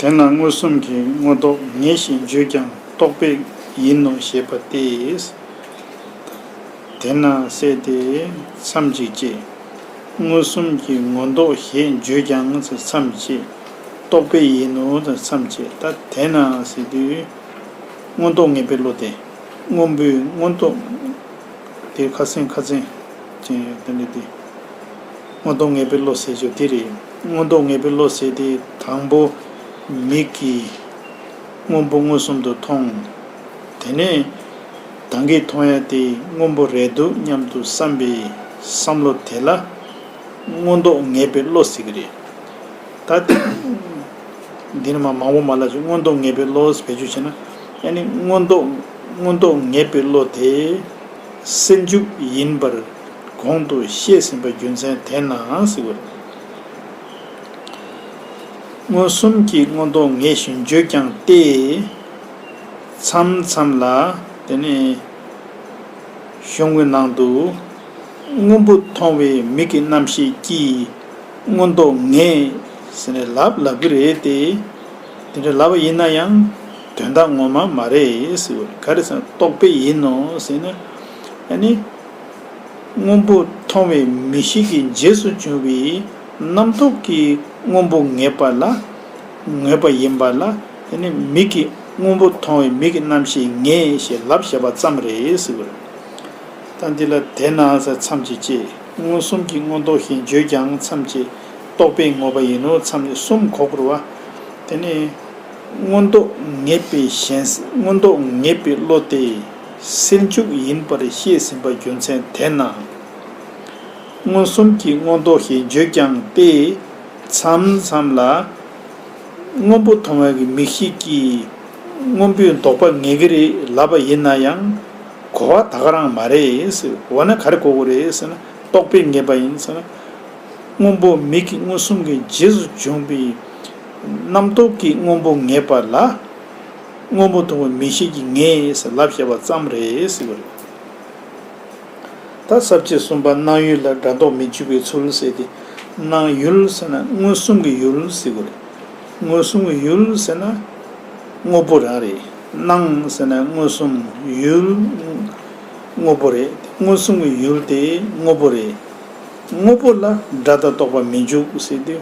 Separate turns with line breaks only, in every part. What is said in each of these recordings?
དེས་ན་མངོན་སུམ་གྱི་མངོན་རྟོགས་ངེས་ཞེས་བརྗོད་ཀྱང་རྟོགས་པས་ཡིན་ནོ་ཞེས་པ་སྟེ། དེས་ན་གསལ་ཏེ་མཚམས་གཅིག་ཅེས། མངོན་སུམ་གྱི་མངོན་རྟོགས་ཞེས་བརྗོད་ཀྱང་མཚམས་གཅིག་རྟོགས་པས་ཡིན་ནོ་མཚམས་གཅིག་ལྟ་དེས་ན་གསལ་ཏེ། མངོན་རྟོགས་ངེས་པའི་བློ་སྟེ་སྔོན་པོའི་མངོན་རྟོགས། དེར་ཁ་སེང་ཁ་ཚན་ཅན་ཡོད་དམ་དྲིས་ཏེ། མངོན་རྟོགས་ངེས་པའི་བློ་ཟད་ཆོས་དེ་རེད། མངོན་རྟོགས་ངེས་པའི་བློ་ཟད་དེ་དང་པོ། མིག་གིས་སྔོན་པོ་མངོན་སུམ་དུ་མཐོང། དེ་ནས། གདངས་ཀྱིས་མཐོང་ཡ་དེ་སྔོན་པོ་རེད་འདུག་སྙམ་དུ་བསམ་པའི་བསམ་བློ་དེ་ལ། མངོན་རྟོགས་ངེས་པའི་བློ་ཟེར་གི་རེད། ད། འདིར་མ་མང་པོ་མ་ལབ་ཅིག་མངོན་རྟོགས་ངེས་པའི་བློ་བེད་སྤྱོད་བྱས་ན། ཡ་ནི་མངོན་རྟོགས་མངོན་རྟོགས་ངེས་པའི་བློ་དེ། སེལ་འཇུག་ཡིན་པར། གོང་དུ་བཤད་ཟིན་པ་རྒྱུ་མཚན་དེས་ནའང་སྲིད། མངོན་སུམ་གྱི་མངོན་རྟོགས་ངེས་བཞིན་བརྗོད་ཀྱང་སྟེ། མཚམས་མཚམས་ལ། དེ་ནས། གཞུང་གི་ནང་དུ། སྔོན་པོ་མཐོང་བའི་མིག་གི་རྣམ་ཤེས་ཀྱིས་མངོན་རྟོགས་ངེས། ཟེར་ནས་ལབ་ལབ་ཀྱི་རེད་དེ། དེ་འདྲ་ལབ་པ་ཡིན་ན་ཡང། དོན་དག་ངོ་མ་མ་རེད། ག་རེ་ཟེར་ན་རྟོག་པས་ཡིན་ནོ་ཟེར་ན། ཡ་ནི། སྔོན་པོ་མཐོང་བའི་མི་ཞིག་གི་རྗེས་སུ་བྱུང་བའི་རྣམ་རྟོག་གི་སྔོན་པོ་ངེས་པ་ལ་ངེས་པ་ཡིན་པ་ལ་དེ་ནི་མིག་གི་སྔོན་པོ་མཐོང་བའི་མིག་གི་རྣམ་ཤེས་ངེས་ཞེས་ལབ་བྱེད་པ་ཙམ་རེད། ད་འདི་ལ་དེས་ན་མཚམས་ཀྱི་ཅེས་མངོན་སུམ་གྱི་མངོན་རྟོགས་ཞེས་བརྗོད་ཀྱང་མཚམས་ཀྱི་རྟོགས་པའི་ངོ་བ་ཡིན་ནོ་མཚམས་ནི་གསུམ་གོ་བུར་བ། དེ་ནི། མངོན་རྟོགས་ངེས་པའི་ཞེན་སེམས་མངོན་རྟོགས་ངེས་པའི་བློ་སྟེ། སེལ་འཇུག་ཡིན་པར་བཤད་ཟིན་པ་རྒྱུ་མཚན་དེས་ན། མངོན་སུམ་གྱི་མངོན་རྟོགས་ཞེས་བརྗོད་ཀྱང་སྟེ། མཚམས་མཚམས་ལ། སྔོན་པོ་མཐོང་བ་གི་མིག་ཤེས་ཀྱིས་སྔོན་པོའི་ལྡོག་པ་ངེས་ཀྱི་རེད་ལབ་པ་ཡིན་ན་ཡང། གོ་བ་དག་རང་མ་རེད། འོ་ན་ག་རེ་གོ་གི་རེད་ཟེར་ན་རྟོག་པའི་ངེས་པ་ཡིན་ཟེར་ན། སྔོན་པོ་མིག་གི་མངོན་སུམ་གྱི་རྗེས་སུ་འབྱུང་པའི་རྣམ་རྟོག་གི་སྔོན་པོ་ངེས་པ་ལ། དངོས་པོ་མཐོང་བའི་མིག་ཤེས་ཀྱིས་ངེས་ལབ་བཤད་པ་ཙམ་རེད། ད་གསར་བཅད་གསུམ་པ་སྣང་ཡུལ་ལ་སྒྲ་འདོགས་མི་འཇུག་པའི་ཚུལ་ཟེར་ཏེ། སྣང་ཡུལ་ཟེར་ན་མངོན་སུམ་གྱི་ཡུལ་ཟེར་དགོས་རེད། མངོན་སུམ་གྱི་ཡུལ་ཟེར་ན་དངོས་པོ་རང་རེད། སྣང་ཟེར་ན་མངོན་སུམ་ཡུལ། དངོས་པོ་རེད། མངོན་སུམ་གྱི་ཡུལ་དེ་དངོས་པོ་རེད། དངོས་པོ་ལ་སྒྲ་དང་རྟོག་པ་མི་འཇུག་ཟེར་དུས།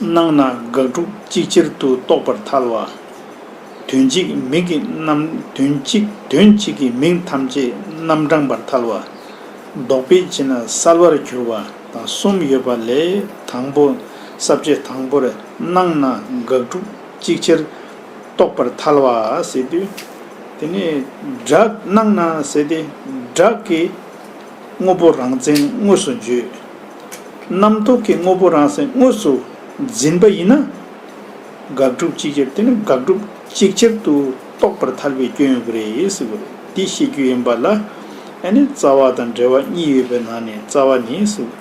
སྣང་ན་དགག་སྒྲུབ་གཅིག་ཆར་དུ་རྟོགས་པར་ཐལ་བ། དོན་གཅིག་མིག་གི་རྣམ། དོན་གཅིག་དོན་གཅིག་གིས་མིག་ཐམས་ཅད་རྣམ་བགྲང་པར་ཐལ་བ། ལྡོག་པས་ཕྱི་ནང་གསལ་བར་གྱུར་པ་དང་གསུམ་ཡོད་པ་ལས་དང་པོ་ས་བཅད་དང་པོར་སྣང་ན་དགག་སྒྲུབ་གཅིག་ཆར་རྟོགས་པར་ཐལ་བ། ཟེར་དུས། དེ་ནི་སྒྲ། སྣང་ན་ཟེར་ཏེ། སྒྲ་གི། དངོས་པོ་རང་མཚན་དངོས་སུ་བརྗོད། རྣམ་རྟོག་གི་དངོས་པོ་རང་མཚན་དངོས་སུ་འཛིན་པ་ཡིན་ན། དགག་སྒྲུབ་གཅིག་ཁྱབ་དེ་ནི་དགག་སྒྲུབ་གཅིག་ཁྱབ་ཏུ་རྟོགས་པར་ཐར་པའི་སྐྱོན་ཡོང་གི་རེད་ཟེར་གི་རེད། འདི་ཤེས་རྒྱུ་ཡིན་པ་ལ། ཨ་ནི་རྩ་བ་དང་འབྲེལ་བ་གཉིས་ཡོད་པའི་ནང་ནས་རྩ་བ་ནི་ཟེར་གི་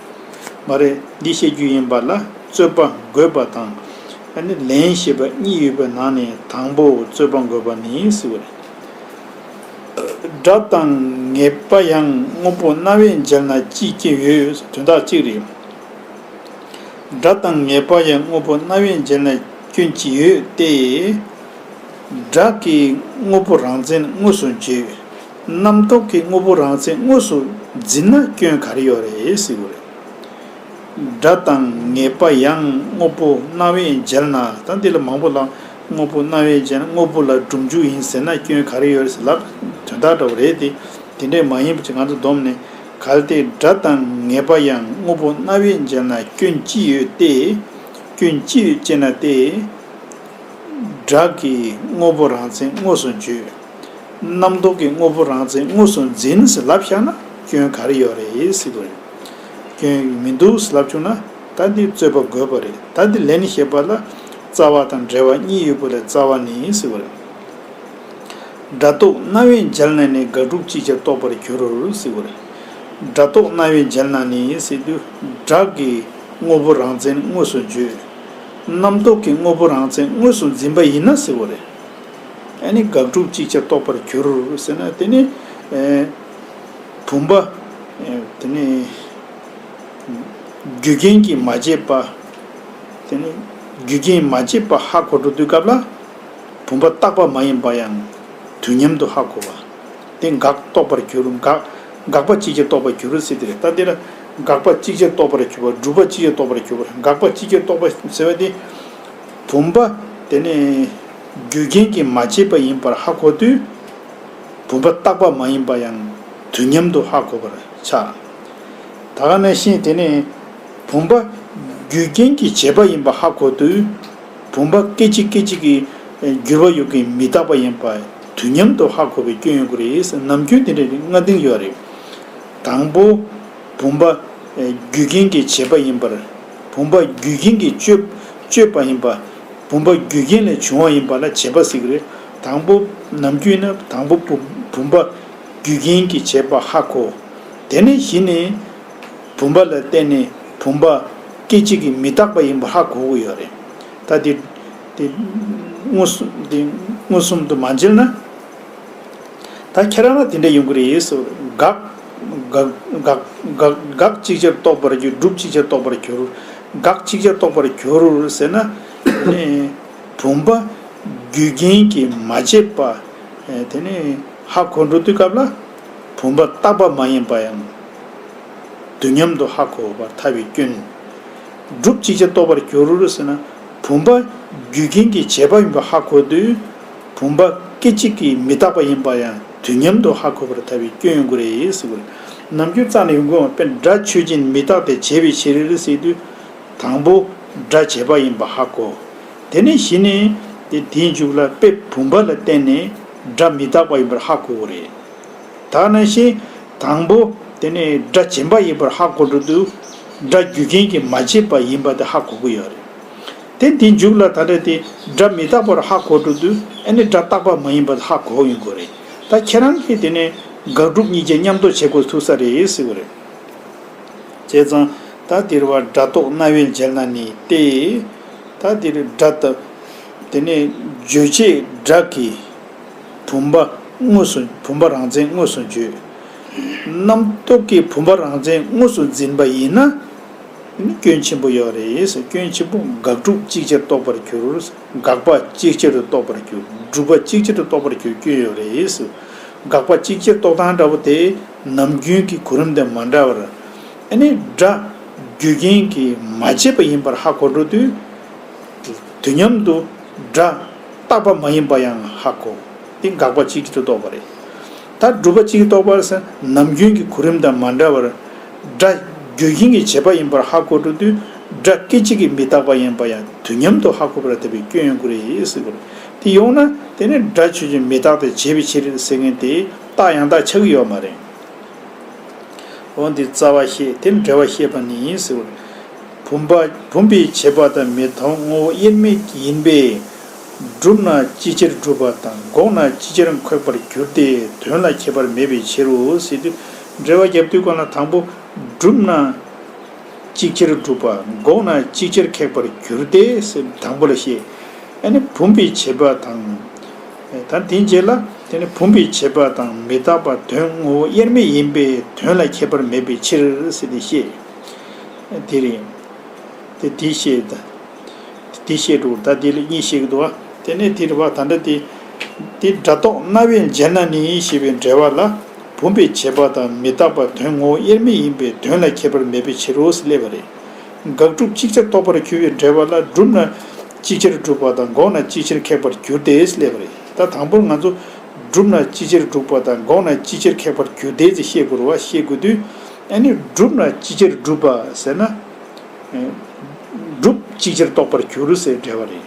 མ་རེད། འདི་ཤེས་རྒྱུ་ཡིན་པ་ལ་རྩོད་པ་འགོད་པ་དང། ཨ་ནི་ལན་ཞེས་པ་གཉིས་ཡོད་པའི་ནང་ནས་དང་པོ་རྩོད་པ་འགོད་པ་ནི་ཟེར་གི་རེད། སྒྲ་དང་ངེས་པ་ཡང་དངོས་པོ་རྣ་བས་མཇལ་ན་ཅི་སྐྱེ་ཡོད་དོན་དག་གཅིག་རེད། སྒྲ་དང་ངེས་པ་ཡང་དངོས་པོ་རྣ་བས་མཇལ་ན་སྐྱོན་ཅི་ཡོད་དེ། སྒྲ་གི་དངོས་པོ་རང་མཚན་དངོས་སུ་བརྗོད། རྣམ་རྟོག་གི་དངོས་པོ་རང་མཚན་དངོས་སུ་འཛིན་ན་སྐྱོན་ག་རེ་ཡོད་རེད་ཟེར་གྱི་རེད། སྒྲ་དང་ངེས་པ་ཡང་དངོས་པོ་རྣ་བས་མཇལ་ན་ད་འདི་ལ་མང་པོ་ལ། དངོས་པོ་སྣང་བའི་རྗེས་ན་དངོས་པོ་ལ་སྒྲུབ་འཇུག་ཡིན་ཟེར་ན་སྐྱོན་ག་རེ་ཡོད་རེད་ཟེར་ལབ། དོན་དག་འདྲ་བོ་རེད་དེ། དེ་འདྲས་མ་ཡིན་པ་ཅིག་ང་ཚོ་བསྡོམས་ནས། གལ་ཏེ་སྒྲ་དང་ངེས་པ་ཡང་དངོས་པོ་སྣང་བའི་རྗེས་ན་སྐྱོན་ཅི་ཡོད་སྟེ། སྐྱོན་ཅི་ཡོད་ཅེ་ན་སྟེ། སྒྲ་གིས་དངོས་པོ་རང་མཚན་དངོས་སུ་བརྗོད། རྣམ་རྟོག་གིས་དངོས་པོ་རང་མཚན་དངོས་སུ་འཛིན་ཟེར་ལབ་བཞག་ན་སྐྱོན་ག་རེ་ཡོད་རེད་ཟེར་གྱི་རེད། སྐྱོན་མི་འདུག་ཟེར་ལབ་བྱུང་ན་ད་འདི་རྩོད་པ་དགོས་པ་རེད་ད་འདི་ལན་ཞེས་པ་ལ། རྩ་བ་དང་འབྲེལ་བ་གཉིས་ཡོད་པོ་ལས་རྩ་བ་ནི་ཡིན་ཟེར་བ་རེད། སྒྲ་རྟོག་རྣ་བའི་མཇལ་ན་ནི་དགག་སྒྲུབ་ཅིག་ཅར་རྟོགས་པར་འགྱུར་རོ་ཟེར་བ་རེད། སྒྲ་རྟོག་རྣ་བའི་མཇལ་ན་ནི་ཡིན་ཟེར་དུས་སྒྲ་གི་དངོས་པོ་རང་མཚན་དངོས་སུ་བརྗོད། རྣམ་རྟོག་གི་དངོས་པོ་རང་མཚན་དངོས་སུ་འཛིན་པ་ཡིན་ན་ཟེར་བ་རེད། ཨེ་ནི་དགག་སྒྲུབ་ཅིག་ཅར་རྟོགས་པར་འགྱུར་ཟེར་ན་དེ་ནི། བུམ་པ། དེ་ནི། རྒྱུ་རྐྱེན་གྱིས་མ་བྱས་པ། དེ་ནི་རྒྱུ་རྐྱེན་མ་བྱས་པར་ཧ་གོ་འགྲོ་དུས་སྐབས་ལ། བུམ་པ་རྟག་པ་མ་ཡིན་པ་ཡང་དུས་མཉམ་དུ་ཧ་གོ་བ། དེ་འགག་རྟོགས་པར་གྱུར་འགག་འགག་པ་ཅིག་ཅར་རྟོགས་པར་གྱུར་རོ་ཟེར་ཏེ་རེད་ད་འདི་ལ། འགག་པ་ཅིག་ཅར་རྟོགས་པར་གྱུར་པ་སྒྲུབ་པ་ཅིག་ཅར་རྟོགས་པར་གྱུར་པར་འགག་པ་ཅིག་ཅར་རྟོགས་པ་ཟེར་བ་དེ། བུམ་པ་དེ་ནི་རྒྱུ་རྐྱེན་གྱིས་མ་བྱས་པ་ཡིན་པར་ཧ་གོ་དུས། བུམ་པ་རྟག་པ་མ་ཡིན་པ་ཡང་དུས་མཉམ་དུ་ཧ་གོ་བར་བྱ། ད་ག་ནས་ཤེས་དེ་ནི། བུམ་པ། རྒྱུའི་རྐྱེན་གྱིས་བྱས་པ་ཡིན་པ་ཧ་གོ་དུས། བུམ་པ་སྐད་ཅིག་སྐད་ཅིག་གིས། འགྱུར་བ་ཡོད་ཀྱིན་མི་རྟག་པ་ཡིན་པ། དུས་མཉམ་དུ་ཧ་གོ་བའི་སྐྱོན་ཡོད་དགོས་རེད། ནམ་རྒྱུན་དེ་འདྲ་རེད་ང་དེང་ཡོད་རེད། དང་པོ། བུམ་པ། རྒྱུའི་རྐྱེན་གྱིས་བྱས་པ་ཡིན་པར། བུམ་པ། རྒྱུའི་རྐྱེན་གྱིས་སྤྱོད། སྤྱོད་པ་ཡིན་པ། བུམ་པ། རྒྱུའི་རྐྱེན་ལས་བྱུང་བ་ཡིན་པ་ལ་བྱས་པ་གཟིགས་རེད། དང་པོ། ནམ་རྒྱུན་ན་དང་པོ། བུམ་པ། རྒྱུའི་རྐྱེན་གྱིས་བྱས་པ་ཧ་གོ། དེ་ནས་གཞི་ནས། བུམ་པ་ལ་བརྟེན་ནས་བུམ་པ་སྐད་ཅིག་གིས་མི་རྟག་པ་ཡིན་པ་ཧ་གོ་གི་ཡོད་རེད། ད་དེ་དེ་མངོན་སུམ་དེ་མངོན་སུམ་དུ་མ་མཇལ་ན། ད་ཁྱེད་རང་ལ་དེ་འདྲ་ཡོང་གི་རེད་ཟེར་བ་དགག་དགག་དགག་དགག་ཅིག་ཅར་རྟོགས་པར་འགྱུར་སྒྲུབ་ཅིག་ཅར་རྟོགས་པར་འགྱུར་དགག་ཅིག་ཅར་རྟོགས་པར་འགྱུར་ཟེར་ན། དེ་ནི་བུམ་པ་རྒྱུ་རྐྱེན་གྱིས་མ་བྱས་པ་དེ་ནི་ཧ་གོ་འགྲོ་དུས་སྐབས་ལ། བུམ་པ་རྟག་པ་མ་ཡིན་པ་ཡང། དུས་མཉམ་དུ་ཧ་གོ་བར་ཐལ་བའི་སྐྱོན། སྒྲུབ་ཅིག་ཅར་རྟོགས་པར་འགྱུར་ཟེར་ན། བུམ་པ་རྒྱུ་རྐྱེན་གྱི་བྱེད་པ་ཡིན་པ་ཧ་གོ་དུས། བུམ་པ་སྐད་ཅིག་གིས་མི་རྟག་པ་ཡིན་པ་ཡང་དུས་མཉམ་དུ་ཧ་གོ་བར་ཐལ་བའི་སྐྱོན་ཡོང་གི་རེད་ཟེར་དགོས། ནམ་རྒྱུན་རྩ་ནས་ཡོང་དགོས་ཡོང་བ་དཔེར་སྒྲ་ཆོས་ཅན་མི་རྟག་སྟེ་བྱེད་པའི་ཕྱིར་ཟེར་དུས། དང་པོ་སྒྲ་བྱེད་པ་ཡིན་པ་ཧ་གོ། དེ་ནས་གཞི་ནས་དེ་དེའི་མཇུག་ལ་དཔེ་བུམ་པ་ལ་བརྟེན་ནས། སྒྲ་མི་རྟག་པ་ཡིན་པར་ཧ་གོ་བོ་རེད། ད་ནང་བཞིན། དང་པོ། དེ་ནི་སྒྲ་བྱིན་པ་ཡིན་པར་ཧ་གོ་འགྲོ་དུས། སྒྲ་རྒྱུ་རྐྱེན་གྱིས་མ་བྱས་པ་ཡིན་པ་དེ་ཧ་གོ་གི་ཡོད་རེད། དེ་འདི་མཇུག་ལ་ད་སྒྲ་དེ་སྒྲ་མི་རྟག་པར་ཧ་གོ་འགྲོ་དུས་ཨེ་ནི་སྒྲ་རྟག་པ་མ་ཡིན་པ་དེ་ཧ་གོ་ཡོང་གི་རེད། ད་ཁྱེད་རང་གིས་དེ་ནི་དགག་སྒྲུབ་གཉིས་ཀྱི་མཉམ་རྟོགས་བྱེད་དགོས་ཐུག་ས་རེད་ཟེར་གི་རེད། བྱས་ཙང། ད་འདིར་བ་སྒྲ་རྟོག་རྣ་བས་མཇལ་ན་ནི་སྟེ། ད་འདིར་སྒྲ་རྟག། དེ་ནས་བརྗོད་བྱའི་སྒྲ་གི་བུམ་པ་དངོས་སུ་བུམ་པ་རང་མཚན་དངོས་སུ་བརྗོད། རྣམ་རྟོག་གི་བུམ་པ་རང་མཚན་དངོས་སུ་འཛིན་པ་ཡིན་ན། དེ་ནི་སྐྱོན་ཆེན་པོ་ཡོད་རེད། སྐྱོན་ཆེན་པོ་དགག་སྒྲུབ་གཅིག་ཆར་རྟོགས་པར་གྱུར། དགག་པ་གཅིག་ཆར་དུ་རྟོགས་པར་གྱུར། སྒྲུབ་པ་གཅིག་ཆར་དུ་རྟོགས་པར་གྱུར་སྐྱོན་ཡོད་རེད། དགག་པ་གཅིག་ཆར་རྟོགས་སྟངས་འདྲ་པོ་དེ་ནམ་རྒྱུན་གྱི་གོ་རིམ་དང་མ་འདྲ་བར། སྒྲ་རྒྱུ་རྐྱེན་གྱིས་མ་བྱས་པ་ཡིན་པར་ཧ་གོ་འགྲོ་དུས། དུ་མཉམ་དུ་སྒྲ། རྟག་པ་མ་ཡིན་པ་ཡང་ཧ་གོ། འདི་དགག་པ་སྤྱི་གིས་ཐུགས་རྟོགས་པ་རེད། ད་སྒྲུབ་པ་སྤྱི་གིས་རྟོགས་པར་སེམས་ནམ་རྒྱུན་གྱི་གོ་རིམ་དང་མ་འདྲ་བར། སྒྲ། རྒྱུ་རྐྱེན་གྱི་བྱེད་པ་ཡིན་པར་ཧ་གོ་འགྲོ་དུས། སྒྲ། སྐད་ཅིག་གིས་མི་རྟག་པ་ཡིན་པ་ཡང་དུས་མཉམ་དུ་ཧ་གོ་བར་འཐད་པའི་སྐྱོན་ཡོང་གི་རེད་ཟེར་གི་རེད། དེ་ཡོང་ན། དེ་ནི་སྒྲ་ཆོས་ཀྱི་མི་རྟག་སྟེ་བྱེད་པའི་ཕྱིར་ཟེར་མཁན་དེས་རྟགས་ཡང་དག་ཆགས་ཀྱི་ཡོད་མ་རེད། འོ་འདི་རྩ་བ་ཤེས་དེ་འབྲེལ་བ་ཤེས་པ་ནི་ཡིན་ཟེར། བུམ་པ་བུམ་པའི་བྱེད་པ་དང་མི་མཐོང་ངོ་བོ་དབྱེར་མེད་ཡིན་པས། བསྒྲུབས་ན་ཅི་ཕྱིར་བསྒྲུབ་པ་དང་འགོག་ན་ཅི་ཕྱིར་འཁོད་པར་འགྱུར་ཏེ་དོན་ལ་ཁྱད་པར་མེད་པའི་ཕྱིར་རོ་ཟེར་དུས། འབྲེལ་བ་བརྒྱབ་དུས་གང་ལ་དང་པོ་བསྒྲུབས་ན་ཅི་ཕྱིར་བསྒྲུབ་པ་འགོག་ན་ཅི་ཕྱིར་ཁེགས་པར་འགྱུར་ཏེ་ཟེར་དང་པོ་ལ་ཤེས། ཡང་ན་བུམ་པའི་བྱེད་པ་དང། ད་དེ་རྗེས་ལ་དེ་ནི་བུམ་པའི་བྱེད་པ་དང་མི་རྟག་པ་དོན་ངོ་བོ་དབྱེར་མེད་ཡིན་པས་དོན་ལ་ཁྱད་པར་མེད་པའི་ཕྱིར་ཟེར་ཏེ་བཤད། དེ་རིང། དེ་དེ་བཤད། དེ་བཤད་དྲུག་ད་དེ་ལ་གཉིས་བཤད་ཀྱི་འདུག་ཨ། དེ་ནས་དེ་རི་བ་ད་འདྲ་སྟེ། དེ་སྒྲ་རྟོག་རྣ་བས་མཇལ་ན་ནི་ཞེས་པའི་འགྲེལ་བ་ལ། བུམ་པའི་བྱེད་པ་དང་མི་རྟག་པ་དོན་ངོ་བོ་དབྱེར་མེད་ཡིན་པས་དོན་ལ་ཁྱད་པར་མེད་པའི་ཕྱིར་རོ་ཞེས་སླད་པ་རེད། དགག་སྒྲུབ་གཅིག་ཆར་རྟོགས་པར་འགྱུར་བའི་འགྲེལ་པ་ལ་བསྒྲུབས་ན་ཅི་ཕྱིར་འགྲུབ་པ་དང་འགོག་ན་ཅི་ཕྱིར་ཁེགས་པར་འགྱུར་ཏེ་སླེབས་པ་རེད་ད་དང་པོར་ང་ཚོ། བསྒྲུབས་ན་ཅི་ཕྱིར་འགྲུབ་པ་དང་འགོག་ན་ཅི་ཕྱིར་ཁེགས་པར་འགྱུར་ཏེ་ཅེས་ཤེས་དགོས་ར་ཤེས་དགོས་དུས། ཨ་ནི་བསྒྲུབས་ན་ཅི་ཕྱིར་འགྲུབ་པ་ཟེར་ན། སྒྲུབ་གཅིག་ཆར་རྟོགས་པར་འགྱུར་ཟེར་བའི་འགྲེལ་བ་རེད།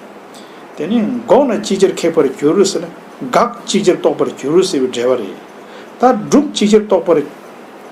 དེ་ནས་འགོག་ན་ཅི་ཕྱིར་ཁེགས་པར་འགྱུར་ཟེར་ན་དགག་གཅིག་ཆར་རྟོགས་པར་འགྱུར་ཟེར་བའི་འགྲེལ་བ་རེད། ད་སྒྲུབ་གཅིག་ཆར་རྟོགས་པར་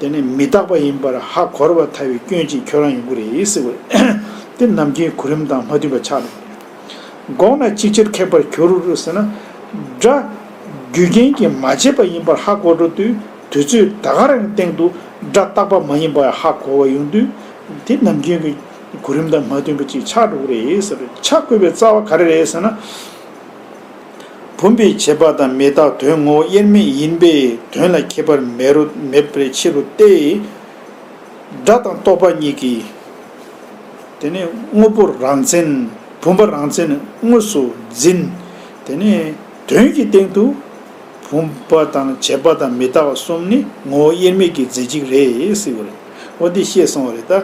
དེ་ནི་མི་རྟག་པ་ཡིན་པར་ཧ་གོ་བར་ཐལ་བའི་སྐྱོན་གྱིས་ཁྱོད་རང་ཡོང་གི་རེད་ཟེར་བས། འདི་ནམ་མཁའི་གོ་རིམ་དང་མ་མཐུན་པ་ཆགས་འདུག་འགོག་ན་ཅིའི་ཕྱིར་ཁེགས་པར་གྱུར་ཟེར་ན། སྒྲ། རྒྱུ་རྐྱེན་གྱིས་མ་བྱས་པ་ཡིན་པར་ཧ་གོ་འགྲོ་དུས་དུས་ཚོད་ད་ག་རང་གི་སྟེང་དུ་སྒྲ་རྟག་པ་མ་ཡིན་པར་ཧ་གོ་བ་ཡོང་དུས། འདི་ནམ་རྒྱུན་གྱི་གོ་རིམ་དང་མ་མཐུན་པ་ཅིག་ཆགས་འགྲོ་གི་རེད་ཟེར་བས་ཆ་བགོས་པའི་རྩ་བ་ག་རེ་རེད་ཟེར་ན། བུམ་པའི་བྱེད་པ་དང་མི་རྟག་དོན་ངོ་བོ་དབྱེར་མེད་ཡིན་པས་དོན་ལ་ཁྱད་པར་མེད་པའི་ཕྱིར་རོ་སྟེ། སྒྲ་དང་རྟོག་པ་གཉིས་ཀྱི། དེ་ནི་དངོས་པོ་རང་མཚན། བུམ་པ་རང་མཚན་དངོས་སུ་འཛིན། དེ་ནི་དོན་གྱི་སྟེང་དུ། བུམ་པ་དང་བྱེད་པ་དང་མི་རྟག་བ་གསུམ་ནི་ངོ་བོ་དབྱེར་མེད་ཀྱི་རྫས་གཅིག་རེད། འོ་འདི་ཤེས་སོང་བ་རེད་ད།